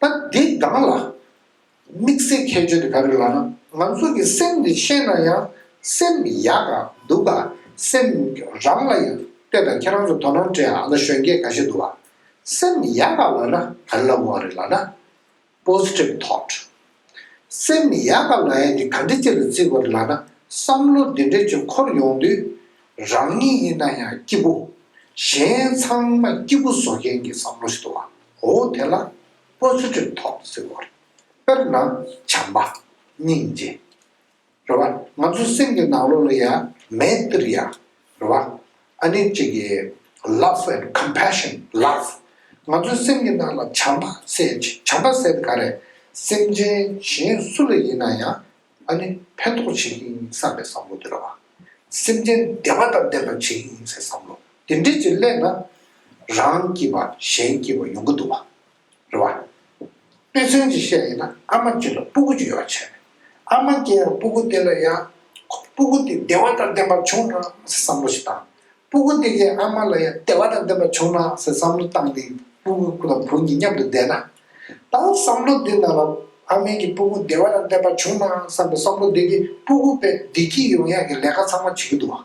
ད་འདི་གང་ལགས། དམིགས་བསལ་ཁྱད་ཆོས་དེ་ག་རེ་ལགས་ན་ང་ཚོ་གི་སེམས་དེ་ཤེས་ན་ཡང་སེམས་ཡག་ག་འདུག་ག་སེམས་རང་ལ་ཡང་ལྟོས་དང་ཁྱེད་རང་ཚོ་དོ་སྣང་བྲལ་ཨ་མདའ་གཞོན་སྐྱེས་ག་ཤེད་འདུག་ག་སེམས་ཡག་ག་ལགས་ན་ག་རེ་ལབ་དགོས་ཨ་རེ་ལགས་ན Positive thought སེམས་མི་ཡག་པ་ང་ཡང་འདི་ག་འདྲི་རྩད་དུ་བརྩི་བར་ལགས་ན་བསམ་བློ་འདི་འདྲས་ཆོས་འཁོར་ཡོང་དུས། རང་ཉིད་ཡིན་ན་ཡང་སྐྱིད་པོ། གཞན་ཚང་མ་སྐྱིད་པོ་བཟོ་མཁན་གྱི་བསམ་བློ་ཞིག་ཏུ་འོ་དེ་ལ་སྤོ་ཚེ་ཁྲོད་ཐོག་ཟེར་བར། དཔེར་ན་བྱམས་པ། སྙིང་རྗེ། རེད་བ། ང་ཚོའི་སེམས་ཀྱི་ནང་ལོགས་ལ་ཡང་མེད་འདིར་ཡང་རེད་བ། ཨ་ནེ་གཅིག་གི Love and Compassion Love ང་ཚོའི་སེམས་ཀྱི་ནང་ལ་བྱམས་པ་ཟེར་བྱམས་པ་ཟེར་ག་རེ་སེམས་ཅན་གཞན་སུ་ལ་ཡིན་ན་ཡང་ཨ་ནེ་ཕན་ཐོགས་བྱེད་ཀྱི་ཡིན་བསམ་པའི་བསམ་བློ་འདི་རེད་བ། སེམས་ཅན་བདེ་བ་དང་ལྡན་པ་བྱེད་ཀྱི་ཡིན་ཟེར་བསམ་བློ་འདི་འདྲིས་ཀྱི་སླད་ན་རང་སྐྱིད་པ་གཞན་སྐྱིད་པ་ཡོང་གི་འདུག་བ། རེད་བ། དཔེ་མཚོན་གྱིས་བཤད་ཡིན་ན་ཨ་མ་རྒྱུད་ལ་སྤུ་གུ་རྒྱུ་ཡོད་བ་བྱས་མེད། ཨ་མ་རྒྱལ་ཡང་སྤུ་གུ་དེ་ལ་ཡང། སྤུ་གུ་དེ་བདེ་བ་དང་ལྡན་པ་བྱུང་ན་ཟེར་བསམ་བློ་ཞིག་བཏང། སྤུ་གུ་དེ་གའི་ཨ་མ་ལ་ཡང་བདེ་བ་དང་ལྡན་པ་བྱུང་ན་ཟེར་བསམ་བློ་བཏང་སྟེ་སྤུ་གུ་དང་བུ་གཉིས་མཉམ་དུ་བསྡད་ན། ད་བསམ་བློ་འདི་ན་ལ་ཨ་མའི་གི་སྤུ་གུ་བདེ་བ་དང་ལྡན་པ་བྱུང་ན་བསམ་པའི་བསམ་བློ་འདི་གིས་སྤུ་གུ་པས་བདེ་སྐྱིད་ཡོང་ཡག་གི་ལས་ཀ་ཚང་མ་བྱེད་ཀྱི་འདུག་བ།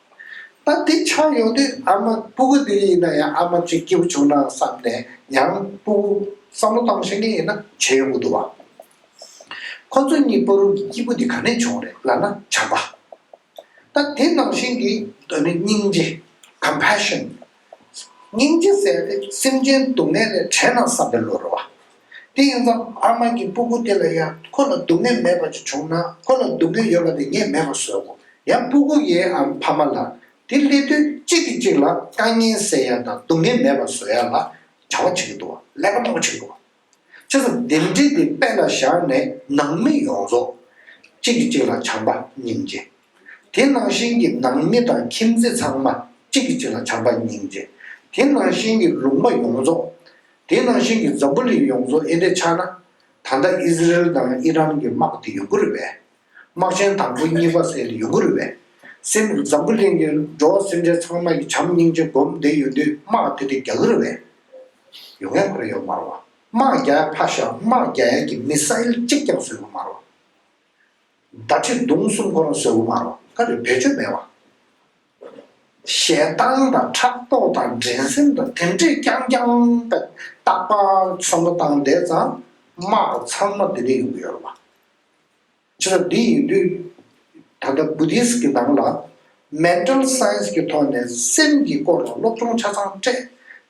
ད་འདི་ཆགས་ཡོང་དུས་ཨ་མ་སྤུ་གུ་འདི་ཡིན་ན་ཡང་ཨ་མ་གཅིག་སྐྱེ་བོ་བྱུང་ན་བསམ་ནས་ཡང་སྤུ་གུ་བསམ་བློ་བཏང་ཤེས་མཁན་ཡིན་ན་བྱས་ཡོང་གི་འདུག་བ། ཁོ་ཚོ་གཉིས་སྤོ་རུང་གི་སྐྱིད་པོ་འདི་ག་ནས་བྱུང་རེད་ལབ་ན་བྱམས་པ། ད་དེ་ནང་བཞིན་གྱི་སྙིང་རྗེ། Compassion། སྙིང་རྗེ་བསལ་ཏེ་སེམས་ཅན་སྡུག་བསྔལ་ལས་བྲལ་ན་བསམ་པའི་བློ་རུ་བ། དེ་ཡིན་ཙང་ཨ་མ་གི་སྤུ་གུ་དེ་ལ་ཡང་ཁོ་ལ་སྡུག་བསྔལ་མེད་པ་ཅིག་བྱུང་ན་ཁོ་ལ་སྡུག་བསྔལ་ཡོད་པ་དེ་ངས་མེད་པར་བཟོས་གོ། ཡང་སྤུ་གུ་ཡའི་ཨམ་ཕ་མ་ལ་དེ་སླེབས་དུས་གཅིག་གིས་གཅིག་ལ་དཀའ་ངལ་སེལ་ཡ་དང་སྡུག་བསྔལ་མེད་པར་བཟོས་ཡ་ལ་བྱ་བ་བྱེད་ཀྱི་འདུག་བ་ཀླད་པ་སྣ་བུག་ཆེ་གི་འདུག་བ། ཆུ་ཚོད་བདུན་བསྒྲིལ་ཏེ་དཔལ་ལ་བཞག་ནས་ནང་མི་ཡོངས་རྫོགས། གཅིག་གིས་གཅིག་ལ་བྱམས་པ་སྙིང་རྗེ། དེ་ནང་བཞིན་གྱི་ནང་མི་དང་ཁྱིམ་མཚེས་ཚང་མ་གཅིག་གིས་གཅིག་ལ་བྱམས་པ་སྙིང་རྗེ། དེ་ནང་བཞིན་གྱི་ལུང་པ་ཡོངས་རྫོགས། དེ་ནང་བཞིན་གྱི་ཛབུ་ལི་ཡོངས་རྫོགས་ཨེ་འདྲས་ཆགས་ན། ད་ལྟ་ཨི་ཟི་རེལ་དང་ཨི་རན་གྱི་དམག་དེ་ཡོང་གི་རེད་པས། དམག་ཆེན་དང་པོ་གཉིས་པ་བསྲེས་ལ་ཡུ་གུ་རུ་བས། སེམས་འཛམ་བུ་གླིང་གི་འགྲོ་བ་སེམས་ཅན་ཚང་མ་ཡི་བྱམས་སྙིང་རྗེ་སྒོམ་བདེ་ཡོད་དུས་དམག་དེ་དེ་རྒྱ་གུ་རུ་བས། ཡོ་ངས་ཁོ་རེ་ཡོད་མ་རུ་བ། དམག་རྒྱ་ཡ་ཕ་ཤ་དམག་རྒྱ་ཡ་གི་མི་ས་ཨེལ་གཅིག་ཀྱང་བཟོད་གུ་མ་རུ་བ། མདའ་ཁྲི་མདུང་གསུམ་ཁོ་རང་བཟོད་གུ་མ་རུ་བ་ཁ་རེ་བེད་སྤྱོད་མེད་བ། ཞེ་སྡང་དང་ཕྲག་དོག་དང་འགྲན་སེམས་དང་དེ་འདྲས་རྐྱང་རྐྱང་པད་སྟག་པ་ཚོམ་བུ་བཏང་བསྡད་ཙང་དམག་ཚང་མ་དེ་དེ་ཡོང་གི་ཡོད་རུ་བ། བྱེད་ཐབས་འདི་ཡིན་དུས། ད་ལྟ Buddhist གྱི་ནང་ལ Mental Science གྱི་ཐོག་ནས་སེམས་ཀྱི་སྐོར་ལ་སློབ་སྦྱོང་ཆ་ཚང་སྤྲད།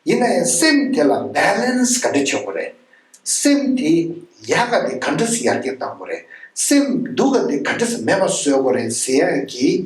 ཡིན་ན་ཡང་སེམས་དེ་ལ Balance ག་འདྲ་བྱེད་དགོས་རེད། སེམས་དེ་ཡག་ག་དེ་ག་འདྲས་ཡར་རྒྱས་གཏང་དགོས་རེད། སེམས་སྡུག་ག་དེ་ག་འདྲས་མེད་པ་བཟོས་དགོས་རེད་ཟེར་ཡང་གྱིས་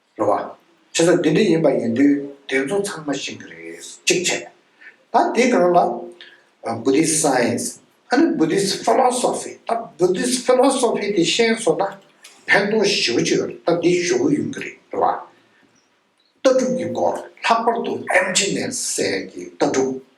རེད་བ། བྱས་ཙང་འདི་འདྲ་ཡིན་པ་ཡིན་དུས་དེ་ཚོ་ཚང་མ་ཤིང་གི་རེད་གཅིག་བྱས། ད་དེ་གང་ལ། Buddhist Science། ཨ་ནི Buddhist Philosophy ད Buddhist Philosophy དེ་ཤེས་སོང་ན་ཕན་ཐོག་བཞི་བཅུ་ཡོད་རེད་ད་འདི་ཞུ་གི་ཡོང་གི་རེད་རེད་བ། ལྟ་གྲུབ་ཀྱི་སྐོར་ལྷག་པར་དུ་ཨེམ་ཆི་ནས་སད་ཀྱི་ལྟ་གྲུབ།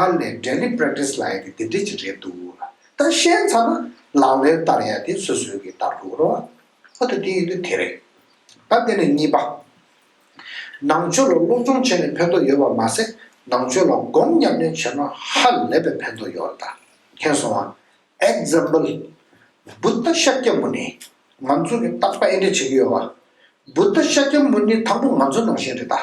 ཨ་ལེ daily practice ལ་ཡ་དེ་དེ་འདྲས་ཅིག་རེད་འདུག་ལ་ད་བཤད་ཚར་ན་ལག་ལེར་བསྟར་ཡ་དེ་སོ་སོའི་གི་ལྟར་འདུག་རོ། ཨ་དེ་དེ་ཡིན་དུས་དེ་རེད། ད་དེ་ནས་གཉིས་པ། ནང་ཆོས་ལ་སློབ་སྦྱོང་བྱས་ནས་ཕན་ཐོགས་ཡོད་པར་མ་ཟད་ནང་ཆོས་ལ་སྒོམ་ཉམས་ལེན་བྱས་ན་ཧ་ལས་པའི་ཕན་ཐོགས་ཡོད་རེད་ད་མཁྱེན་སོང་ཨ། Example། Buddha Shakyamuni ང་ཚོ་གི་རྟག་པ་ཨེ་འདྲས་བྱེད་ཀྱི་ཡོད་བ། Buddha Shakyamuni དང་པོ་ང་ཚོ་ནང་བཞིན་རེད་ད།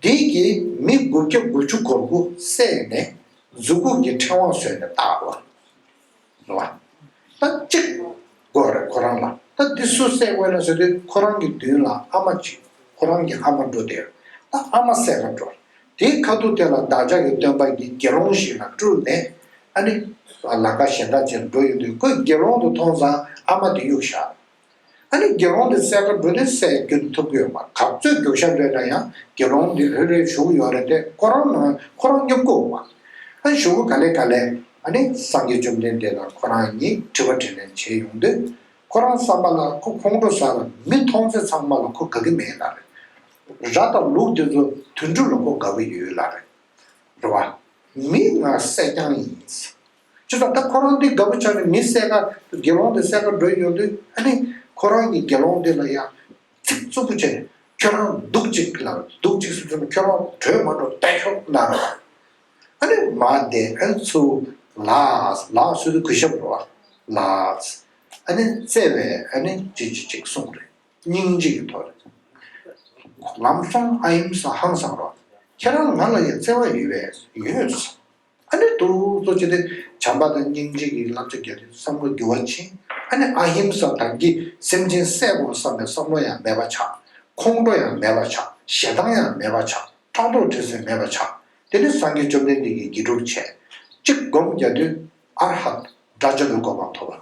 བདུད་ཀྱིས་མི་དགུ་བརྒྱ་དགུ་བཅུ་གོ་དགུ་བསད་ནས་གཟུགས་སྐུ་ཀྱི་ཕྲེང་བ་ཟོས་ནས་བཏགས་ལ། ད་ཅིག། དགོས་རེ་ཁོ་རང་ལ་ད་འདི་སུ་བསད་དགོས་ན་ཟོས་ཏེ་ཁོ་རང་གི་མདུན་ལ་ཨ་མ་གཅིག་ཁོ་རང་གི་ཨ་མ་འགྲོ་དེར་ད་ཨ་མ་བསད་ལ་འགྲོ། དེའི་ཁ་ཐུག་དེ་ལ་བདག་ཅག་གི་སྟོན་པ་ཡི་དགེ་སློང་ཞིག་ལ་སྤྲུལ་ནས་ཨ་ནི། ལ་ཀ་ཞེ་འདྲ་ཅན་འགྲོ་ཡོང་དུས་ཁོས་དགེ་སློང་དུ་མཐོང་ཙང་ཨ་མ་དེ་གཡུག་བཞག། ཨ་ནི་དགེ་སློང་འདི་གསལ་མཁའ་འགྲོ་འདི་གསལ་རྒྱུ་འདི་ཐུབ་ཀྱི་ཡོད་པ་གབ་རྩོད་རྒྱུག་ཤ་འདྲེ་འདྲ་ཡང་དགེ་སློང་འདི་ལྷོད་ལྷོད་བཞུགས་ཡོང་རེད་དེ་ཁོ་རང་ནང་ཁོ་རང་སྙོམས་གོ་བ། ཨ་བཞུགས་གོ་ག་ལེ་ག་ལེ་ཨ་ནི་སངས་རྒྱས་བཅོམ་ལྡན་འདས་ལ་ཁོ་རང་ཉིད་དྲི་བ་དྲིས་ལན་བྱེད་ཡོང་དུས་ཁོ་རང་བསམ་པ་ལ་ཁོ་ཁོང་ཁྲོ་ཟ་ལ་མི་མཐོང་ཚེ་ཚང་མ་ལ་ཁོ་དགའ་གི་མེད་ལ་རེད། ར་དང་ལུག་འདི་ཚོ་དུད་འགྲོ་ལ་ཁོ་དགའ་གི་ཡོད་ལ་རེད། རེ་བ། མིག་སྔར་གསལ་རྐྱང་ཡིན། ཅི་ལྟར་ད་ཁོ་རང་འདི་དགའ་པོ་ཆགས་ནས་མི་གསལ་ཁ་དུ་དགེ་སློང་དེ་གསལ་ཁ་འགྲོ་ཡི་ཡོད་དུས་ཨ་ནི་ཁོ་རང་གིས་དགེ་སློང་འདི་ལ་ཡང་ཚིག་རྩུབ་པོ་བྱས་ནས་ཁྱོད་རང་སྡུག་ཅིག་ལ་སྡུག་ཅིག་གསུངས་ཚུལ་ལ་ཁྱོད་རང་གྲོས་མ་འགྲོ་བལྟ་ཞོག་གནང་རོགས། ཨ་ནི་མ་བསྡད་ཕན་ཚུན་ལགས་ལགས་སུ་དུ་གུས་ཞབས་འགྲོ་བ་ལགས། ཨ་ནི་བརྩེ་བས་ཨ་ནི་ཅིག་ཅིག་ཅིག་གསུངས་རེ་སྙིང་རྗེ་ཡི་ཐོག་རེ། ལམ་སོང་ཨ་ཡིན་ས་ཧང་སང་རོགས་ཁྱེད་རང་ང་ལ་ཡང་བརྩེ་བ་ཡོད་པས་ཡོད། ཨ་ནི་ཏུ་གཙོ་བྱས་ཏེ་བྱམས་པ་དང་སྙིང་རྗེ་ཡི་བསླབ་བྱ་བརྒྱ་ཏིའི་བསམ་བློ་རྒྱུ་བ་ཕྱིན། ཨ་ནི་ཨ་ཧིམ་ས་དམ་གྱི་སེམས་ཅན་གསལ་བོར་བསམ་པའི་བསམ་བློ་ཡང་མེད་པ་བྱ། ཁོང་ཁྲོ་ཡང་མེད་པར་བྱ་ཞེ་སྡང་ཡང་མེད་པར་བྱ་ཕྲག་དོག་དྲི་ཟའི་མེད་པར་བྱ། དེ་ནི་སངས་རྒྱས་བཅོམ་ལྡན་འདས་ཀྱིས་དགེ་སྒྲུབ་བྱས། གཅིག་བསྒོམ་རྒྱ་ཏུའི་ཨ་ར་ཧ་ཏའི་སྒྲ་སྦྱར་བའི་གོ་འཕང་ཐོབ་བམ།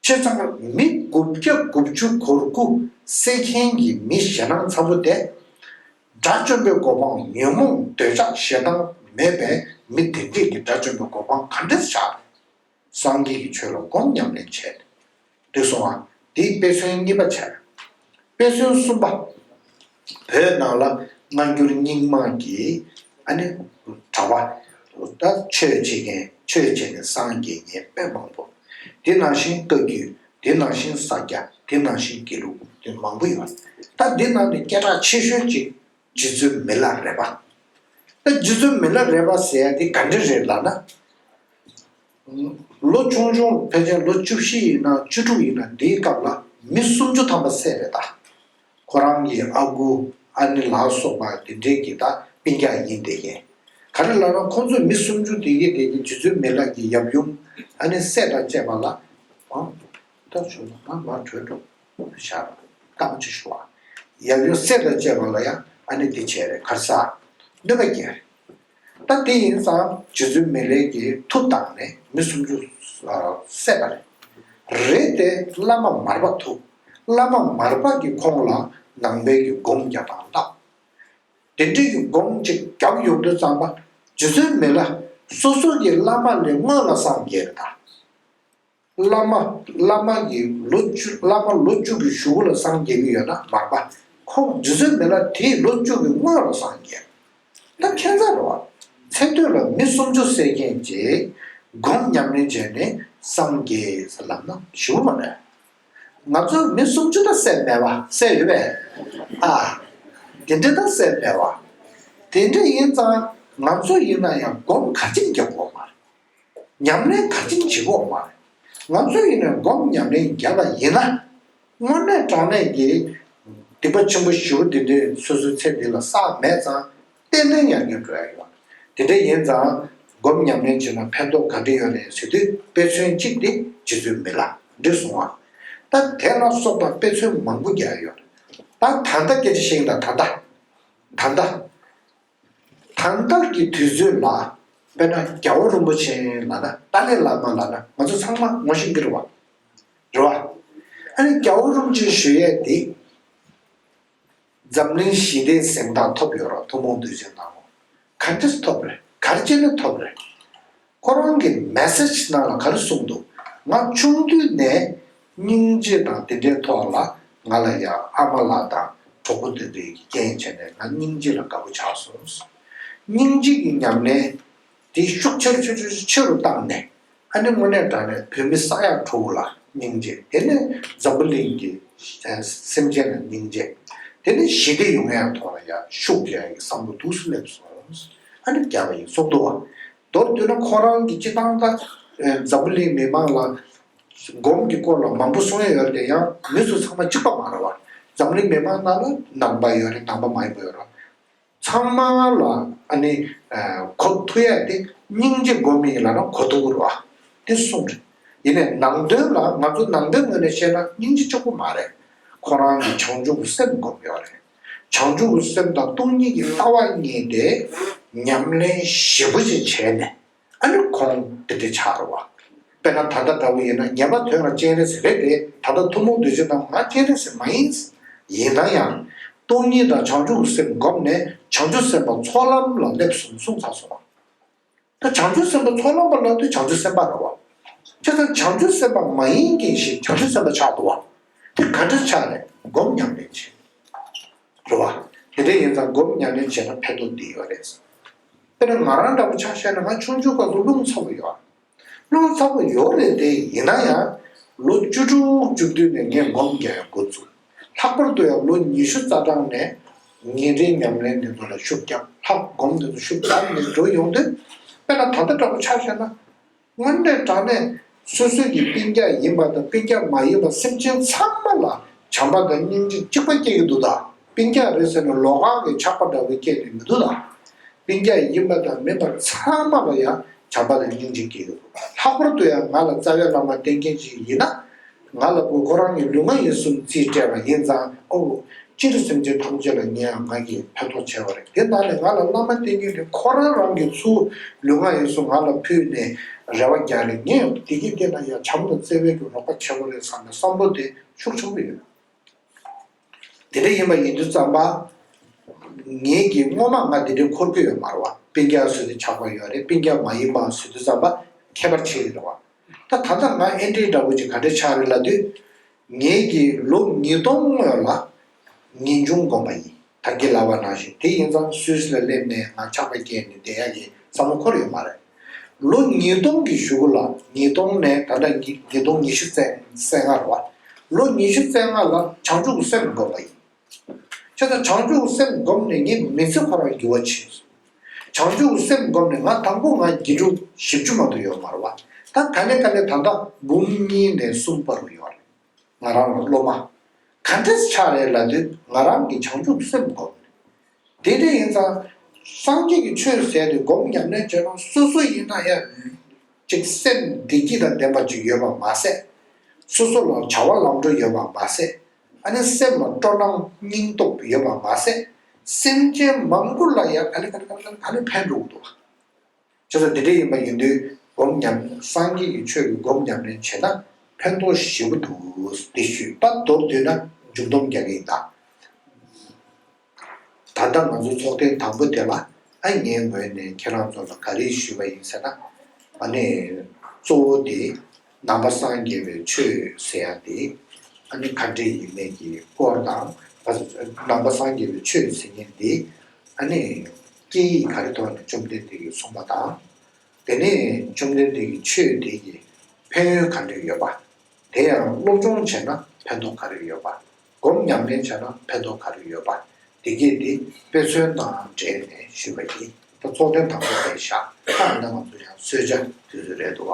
སྤྱོད་གཙང་མི་དགུ་བརྒྱ་དགུ་བཅུ་གོ་དགུ་བསད་མཁན་གྱི་མི་ཞེ་སྣང་ཚ་བོ་དེ། དགྲ་བཅོམ་པའི་གོ་འཕང་ཉོན་མོངས་འདོད་ཆགས་ཞེ་སྡང་མེད་པའི་མི་དེ་འདྲས་ཀྱིས་དགྲ་བཅོམ་པའི་གོ་འཕང་ག་འདྲས་བཞག་པས། སངས་རྒྱས་ཀྱི་ཆོས་ལ་སྒོམ་ཉམས་ལེན་བྱས་ཏེ། འདོད་སོང་བ། འདིས་དཔེ་མཚོན་གཉིས་པ་བྱས། དཔེ་མཚོན་གསུམ་པ། བོད་ནང་ལ་སྔ་འགྱུར་རྙིང་མ་གི་ཨ་ནི་གྲྭ་པ་ད་ཆོས་བྱེད་མཁན་ཆོས་བྱས་ནས་སངས་རྒྱས་ཉེས་དཔེ་མང་པོ། དེ་ནང་བཞིན་བཀའ་བརྒྱུད་དེ་ནང་བཞིན་ས་སྐྱ་དེ་ནང་བཞིན་དགེ་ལུགས་དེ་མང་པོ་ཡོད། ད་འདི་ནང་ནས་སྐད་གྲགས་ཆེ་ཤོས་གཅིག་རྗེ་བཙུན་མི་ལ་རས་པ། ད་རྗེ་བཙུན་མི་ལ་རས་པ་ཟེར་ཡ་དེ་ག་འདྲི་རེད་ལགས་ན། ལོ་ཆུང་ཆུང་ཕལ་ཆེར་ལོ་བཅུ་བཞི་ཡིན་ན་བཅུ་དྲུག་ཡིན་ན་འདིའི་སྐབས་ལ་མི་སུམ་ཅུ་ཐམ་པ་བསད་རེད་ད། ཁོ་རང་གི་ཨ་ཁུ་ཨ་ནེ་ལགས་སོགས་པ་དེ་འདྲས་ཀྱི་ད་སྤིན་རྒྱག་ཡིན་བསྡད་ཀྱིན། ག་རེ་ལ་ན་ཁོ་ཚོས་མི་སུམ་ཅུ་དེ་གའི་གྲས་ཀྱི་ཇི་ཚོད་མེད་ལགས་ཀྱི་ཡབ་ཡུམ་ཨ་ནེ་བསད་དང་བཅས་པ་ལ་ཨང། སྟོབས་ཆུང་ན་ང་མར་བྲོས་འགྲོ་བཞག་རོགས་གནང་ཅིག་ཞུ་ཨ། ཡབ་ཡུམ་བསད་དང་བཅས་པ་ལ་ཡང་ཨ་ནེ་དེ་བྱས་རེད་གར་ས་གནོད་པ་རྒྱལ་རེད། ད་དེ་ཡིན་ཙང་རྗེ་བཙུན་མི་ལེགས་ཀྱི་ཐུགས་དང་ནི་མི་སུམ་ཅུ་བསད་པ་རེད་དེ་བླ་མ་མར་པ་ཐུགས་བླ་མ་མར་པ་གི་ཁོང་ལ་ནང་པའི་གི་སྒོམ་བརྒྱ་དང་བཏབ་དེ་འདྲི་གི་སྒོམ་གཅིག་རྒྱབ་ཡོག་དུ་བརྩམས་པ་རྗེ་བཙུན་མི་ལ་སོ་སོ་གི་བླ་མ་ལས་སྔོན་ལ་སངས་རྒྱས་དང། བླ་མ་བླ་མ་ཡི་ལོ་བཅུ་བླ་མ་ལོ་བཅུ་གི་ཞུ་བོ་ལ་སངས་རྒྱས་མི་ཡོད་ན་མར་པ་ཁོང་རྗེ་བཙུན་མེ་ལ་དེ་ཡི་ལོ་བཅུ་གི་སྔོན་ལ་སངས་རྒྱས། ད་ཁྱད་མཚར་རོ། ཚེ་སྟོད་ལ་མི་སུམ་ཅུ་བསད་མཁན་རྗེ་སྒོམ་ཉམས་ལེན་བྱས་ནས་སངས་རྒྱས་ལབ་ན་ཞུ་བོ་མ་རེད། ང་ཚོ་མི་སུམ་ཅུ་ད་བསད་མེད་བ་བསད་ཡོད་པས་ཨ། དེ་འདྲ་ད་བསད་མེད་བ། དེ་འདྲ་ཡིན་ཙང་ང་ཚོ་ཡིན་ན་ཡང་སྒོམ་ག་ཅིག་རྒྱབ་དགོས་མ་རེད། ཉམས་ལེན་ད་ཅིང་བྱེད་ཁོག་མ་རེད། ང་ཚོས་ཡིན་ནས་སྒོམ་ཉམས་ལེན་རྒྱབ་པ་ཡིན་ན། དངོས་གནས་དྲང་གནས་ཀྱི་སྡིག་པ་ཆེན་པོ་བཞི་བོ་འདི་འདྲའི་སོ་སོའི་ཚེ་འདི་ལ་བསགས་མེད་ཙང་གཏན་ནན་ཡར་རྒྱས་འགྲོ་ཡ་ཡོད། དེ་འདྲ་ཡིན་ཙང་སྒོམ་ཉམས་ལེན་བྱེད་ན་ཕན་ཐོག་ག་འདྲི་ཡོད་རེད་ཟེར་དུས་དཔེ་མཚོན་གཅིག་དེ་རྗེ་བཙུན་མི་ལ་འདྲི་སོང་ཨ། ད་དེ་ལ་སོགས་པ་དཔེ་མཚོན་མང་པོ་རྒྱག་ཡོད། ད་ད་ལྟ་སྐད་ཆ་བཤད་ཀྱིན་ད་ད། ད་ད། དང་བདག་གི་དུས་ཚོད་ལ་དཔེར་ན་རྒྱ་བོ་རིན་པོ་ཆེ་ལ་ན་ཏཱ་ལའི་བླ་མ་ལ་ན་ང་ཚོ་ཚང་མ་ངོ་ཤེས་ཀྱི་རེད་བ། རེད་བ། ཨ་ནི་རྒྱ་བོ་རིན་ཆེན་ཞུ་ཡས་འདི་འཛམ་གླིང་ཞི་བདེའི་གཟེངས་རྟགས་ཐོབ་ཡོད་རོགས་ཐུགས་མོང་འདོད་ཅིག་གནང་རོགས་ག་འདྲས་ཐོབ་རེད་གར་སྤྱད་ན་ཐོབ་རེད། ཁོ་རང་གིས message ནང་ལ་ག་རེ་གསུངས་འདུག་ང་ཆུང་དུས་ནས་སྙིང་རྗེ་དང་དེ་འདྲའི་ཐོག་ལ་ང་ལ་ཡང་ཨ་མ་ལགས་དང་གྲོགས་པོ་འདི་འདྲས་ཀྱི་རྐྱེན་བྱས་ནས་ང་སྙིང་རྗེ་ལ་དགའ་པོ་ཆགས་སོང། སྙིང་རྗེ་ཀྱི་ཉམས་ལེན་དེ་ཤུགས་ཆེ་ཆེ་ཆེ་ཆེ་ཆེ་རུ་བཏང་ནས་ཨ་ནེ་དངོས་གནས་དྲ་ནས་བོད་མི་ས་ཡ་ཁྲོ་བོ་ལ་སྙིང་རྗེ་དེ་ནས་འཛམ་བུ་གླིང་གི་སེམས་ཅན་ལ་སྙིང་རྗེ་དེ་ནས་ཞི་བདེ་ཡོང་ཡ་ཐོག་ལ་ཡང་ཤུགས་རྒྱག་ཡའི་བསམ་བློ་ཐུགས་སུ་སླེབས་སོང། ཨ་ནེ་རྒྱ་བ་ཡིན་སོག་མདོ་བ། མདོར་བསྡུས་ན་ཁོ་རང་གི་སྤྱི་བཏང་དང། འཛམ་བུ་གླིང་མི་མང་ལ། སྒོམ་གྱི་སྐོར་ལ་མང་པོ་གསུང་ཡས་ཡོད་དེ་ཡང་མི་སུ་ཚང་མ་གཅིག་པ་མ་རེད་བ། འཛམ་བུ་གླིང་མི་མང་ནང་ལ་ནང་པ་ཡོད་རེད་ནང་པ་མ་ཡིན་པ་ཡོད་རེད། ཚང་མ་ལ་ཨ་ནི། གོ་ཐུག་ཡས་དེ་སྙིང་རྗེ་སྒོམ་མི་ཡིན་ལ་ན་གོ་ཐུག་རེད་བ། དེ་གསུང་རེད། ཡིན་ནས་ནང་དོན་ལ་ང་ཚོ་ནང་པའི་ངོས་ནས་བཤད་ན་སྙིང་རྗེ་ཅོག་པོ་མ་རེད། ཁོ་རང་གི་བྱང་ཆུབ་སེམས་སྒོམ་ཡོད་རེད། བྱང་ཆུབ་སེམས་དང་སྟོང་ཉིད་ཀྱི་ལྟ་བ་གཉིས་ཏེ་ཉམས་ལེན་བཞི་པོ་ཞེས་བྱས་ནས་ཨ་ནུ་གོང་འདི་འདྲ་བྱ་རོགས། དཔེར་ན་ད་ལྟ་འདྲ་བོ་ཡིན་ན་ཉེས་པ་དོན་ལ་སྤྱན་རས་གཟིགས་རེད་དེ་ད་ལྟ་ཐུན་མོང་བདུད་རྩི་རྣམས་ང་སྤྱན་རས་གཟིགས་མ་ཡིན། ཡིན་ན་ཡང། སྟོང་ཉིད་དང་བྱང་ཆུབ་སེམས་བསྒོམས་ནས་བྱང་ཆུབ་སེམས་དཔའ་ཚོགས་ལམ་ལ་སླེབས་སོང་གསུངས་ཚར་སོང། ད་བྱང་ཆུབ་སེམས་དཔའ་ཚོགས་ལམ་པ་ལ་དུ་བྱང་ཆུབ་སེམས་དཔའ་ར་བ། ཁྱེད་རང་བྱང་ཆུབ་སེམས་དཔའ་མ་ཡིན་གྱིན་ཞིག་བྱང་ཆུབ་སེམས་དཔའ་ཆགས་འདུག་བ། དེ་ག་འདྲ་ཆགས་ནས་སྒོམ་ཉམས་ལེན་བྱེད། རེད་བ། དེ་འདྲ་ཡིན་ཙང་སྒོམ་ཉམས་ལེན་བྱས་ན་ཕན་ཐོགས་འདི་ཡོད་རེད། དཔེར་ན་ང་རང་འདྲ་བོ་ཆ་ཤས་ནང་ཆུང་ཆུང་ཁག་ཏུ་རླུང་ཚ་བོ་ཡོད། རླུང་ཚ་བོ་ཡོད་རེད་དེ་ཡིན་ན་ཡང། ལོ་བཅུ་དྲུག་བཅུ་བདུན་ནས་ངས་སྒོམ་རྒྱག་ཡོད་འགོ་བཙུགས། ལྷག་པར་དུ་ཡང་ལོ་ཉི་ཤུ་རྩ་གྲངས་ནས་ཉིན་རེའི་ཉམས་ལེན་འདི་ཚོ་ལ་ཤུགས་རྒྱག་ལྷག་སྒོམ་འདི་ཚོ་ཤུགས་བསྡམས་ནས་འགྲོ་ཡོང་དུས་དཔེར་ན་ད་ལྟ་འདྲ་པོ་ཆགས་ཤེས་ན། དངོས་གནས་དྲང་གནས་སོ་སོའི་གི་དཔེ་རྒྱ་ཡིན་པ་དང་དཔེ་རྒྱ་མ་ཡིན་པ་སེམས་ཅན་ཚང་མ་ལ་བྱམས་པ་དང་སྙིང་རྗེ་གཅིག་པ་སྐྱེ་གི་འདུག་ད་དཔེ་རྒྱ་རེད་ཟེར་ནས་ལོག་ཁང་གི་ཆགས་པ་འདྲ་བོ་སྐྱེས་ནས་མི་འདུག་ད་དཔེ་རྒྱ་ཡིན་པ་དང་མིན་པ་ཚང་མ་ལ་ཡང་བྱམས་པ་དང་སྙིང་རྗེ་སྐྱེ་གི་འདུག་ལྷག་པར་དུ་ཡང་ང་ལ་རྩ་བའི་བླ་མ་བསྟེན་མཁན་ཞིག་ཡིན་ན། ང་ལ་དགོས་ཁོ་རང་གི་ལུས་ངག་ཡིད་གསུམ་རྩིས་སྤྲད་པ་ཡིན་ཙང་ཨོ། སྤྱིར་སེམས་ཅན་ཐམས་ཅད་ལ་ངས་ང་གིས་ཕན་ཐོགས་བྱས་པ་རེད་དེ་ནང་ནས་ང་ལ་བླ་མ་བསྟེན་རྒྱུ་དེ་ཁོ་རང་རང་གི་ཚུལ་ལུས་ངག་ཡིད་གསུམ་ང་ལ་ཕུལ་ནས་རེ་བ་རྒྱག་རེད་ངས་བདེ་སྐྱིད་བསྟེན་ན་ཡང་བྱམས་དང་བརྩེ་བས་ཀྱང་རོགས་པ་བྱེད་པ་རེད་བསམ་པའི་བསམ་བློ་དེ་ཤུགས་ཆེན་པོ་ཡོད། དེ་འདྲ་ཡིན་པ་ཡིན་དུས་ཙམ་པ། ངེད་ཀྱིས་སྔོན་མ་ང་འདི་འདྲའི་འཁོར་བསྐོས་ཡོད་མ་རེད་བ་དཔེ་རྒྱ་བཟོས་ཏེ་ཆགས་པ་ཡོད་རེད་དཔེ་རྒྱ་མ་ཡིན་པའང་བཟོས་དུས་ཙམ་པ་ཁྱད་པར་ཆེ་ཡོད་རེད་བ། ད་ད་ལྟ་ང་ཨེ་འདྲའི་འདྲ་བོ་ཅིག་ག་འདྲའི་ཆགས་རེད་ལབ་དུས། ངེད་ཀྱིས་ལོ་ཉིས་སྟོང་སྔོན་ལ་ངེས་འབྱུང་སྒོམ་པ་ཡིན་ད་ཁྱི་ལ་བ་ནང་བཞིན་དེ་ཡིན་ཙམ་སུས་ལ་སླེབས་ནས་ང་ཆགས་པ་སྐྱེས་ནས་བསྡད་ཡག་གི་ས་མོ་འཁོར་ཡོད་མ་རེད། ལོ་ཉིས་སྟོང་གི་བཞུགས་སྒོ་ལ་ཉིས་སྟོང་ནས་ད་ལྟ་ཉིས་སྟོང་ཉི་ཤུ་རྩེག་སྔར་བ་ལོ་ཉི་ཤུ་རྩེག་སྔར་ལ་བྱང་ཆུབ་སེམས་བསྒོམས་པ་ཡིན། ཁྱེད་ཚོ་བྱང་ཆུབ་སེམས་བསྒོམས་ནས་ངས་མི་ཚེ་འཁོར་བར་འགྱུར་བ་བྱས་སོ། བྱང་ཆུབ་སེམས་བསྒོམས་ནས་ང་དང་པོ་ང་དགེ་ཕྲུག་བཞི་བཅུ་མ་དུ་ཡོད་མར་བ་ད་ག་ནས་ག་ནས་ད་ལྟ་འབུམ་གཉིས་ནས་གསུམ་པ་རུ་ཡོད་རེད། ང་རང་ལ་སློབ་མ་ག་འདྲས་ཆགས་རེད་ལབ་དུས་ང་རང་གིས་བྱང་ཆུབ་སེམས་བསྒོམ། དེ་འདྲ་ཡིན་ཙང་སངས་རྒྱས་ཀྱི་ཆོས་ཟད་དུས་སྒོམ་ཉམས་ལེན་བྱེད་རུང་སོ་སོ་ཡིན་ན་ཡང་ཅིག་སེམས་བདེ་སྐྱིད་དང་ལྡན་པ་ཅིག་ཡོད་པར་མ་ཟད། སོ་སོ་ལ་བྱ་བ་ལམ་འགྲོ་ཡོད་པར་མ་ཟད་ཨ་ནི་སེམས་ལ་སྤྲོ་སྣང་སྙིང་སྟོབས་ཡོད་པར་མ་ཟད་སེམས་ཅན་མང་པོ་ལ་ཡང་ཨ་ནི་ཕན་འགྲོ་འོ་དོ། ཁྱེད་ཚོ་འདི་འདྲ་ཡིན་པ་ཡིན་དུས་སྒོམ་ཉམས་སངས་རྒྱས་ཀྱི་ཆོས་ཀྱི་སྒོམ་ཉམས་རེ་བྱེད་ན་ཕན་ཐོག་ཞེ་པོ་འདུག་འདི་ཤུད་པ་མདོར་བསྡུས་ན་མཇུག་སྡོམ་རྒྱག་གི་ཡིན་ད། ད་ལྟ་ང་ཚོ་ཚོགས་ཐེངས་དང་པོ་དེ་ལ་ཨ་ངའི་ངོས་ནས་ཁྱེད་རང་ཚོ་ལ་ག་རེ་ཞུས་པ་ཡིན་ཟེར་ན། གནས་གཙོ་བོ་དེ། ནང་པ་སངས་རྒྱས་པའི་ཆོས་ཟེར་ཡ་དེ་ཨ་ནི་ག་འདྲེ་ཡིན་མེད་ཀྱི་སྐོར་དང། ནང་པ་སངས་རྒྱས་པའི་ཆོས་ཟེར་མཁན་དེ་ཨ་ནི་སྐད་ཡིག་ག་རེ་ཐོག་ནས་བཅོམ་ལྡན་འདས་ཀྱིས་གསུངས་པ་དང། དེ་ནས་བཅོམ་ལྡན་འདས་ཀྱི་ཆོས་དེ་ཡི་ཕན་ཡོན་ག་འདྲེ་ཡོད་པ། དེ་ཡང་སློབ་སྦྱོང་བྱས་ན་ཕན་ཐོག་ག་རེ་ཡོད་པ། སྒོམ་ཉམས་ལེན་བྱས་ན་ཕན་ཐོག་ག་རེ་ཡོད་པ་དེ་སྐད་དེ་དཔེ་མཚོན་དང་འབྲེལ་ནས་ཞུས་པ་ཡིན། ད་ཚོགས་ཐེངས་དང་པོ་དེ་ཞག་ཁག་ནང་ང་ཚོ་ཡང་གསོལ་ཇ་དུས་ཚོད་རེད་འདུག་བ།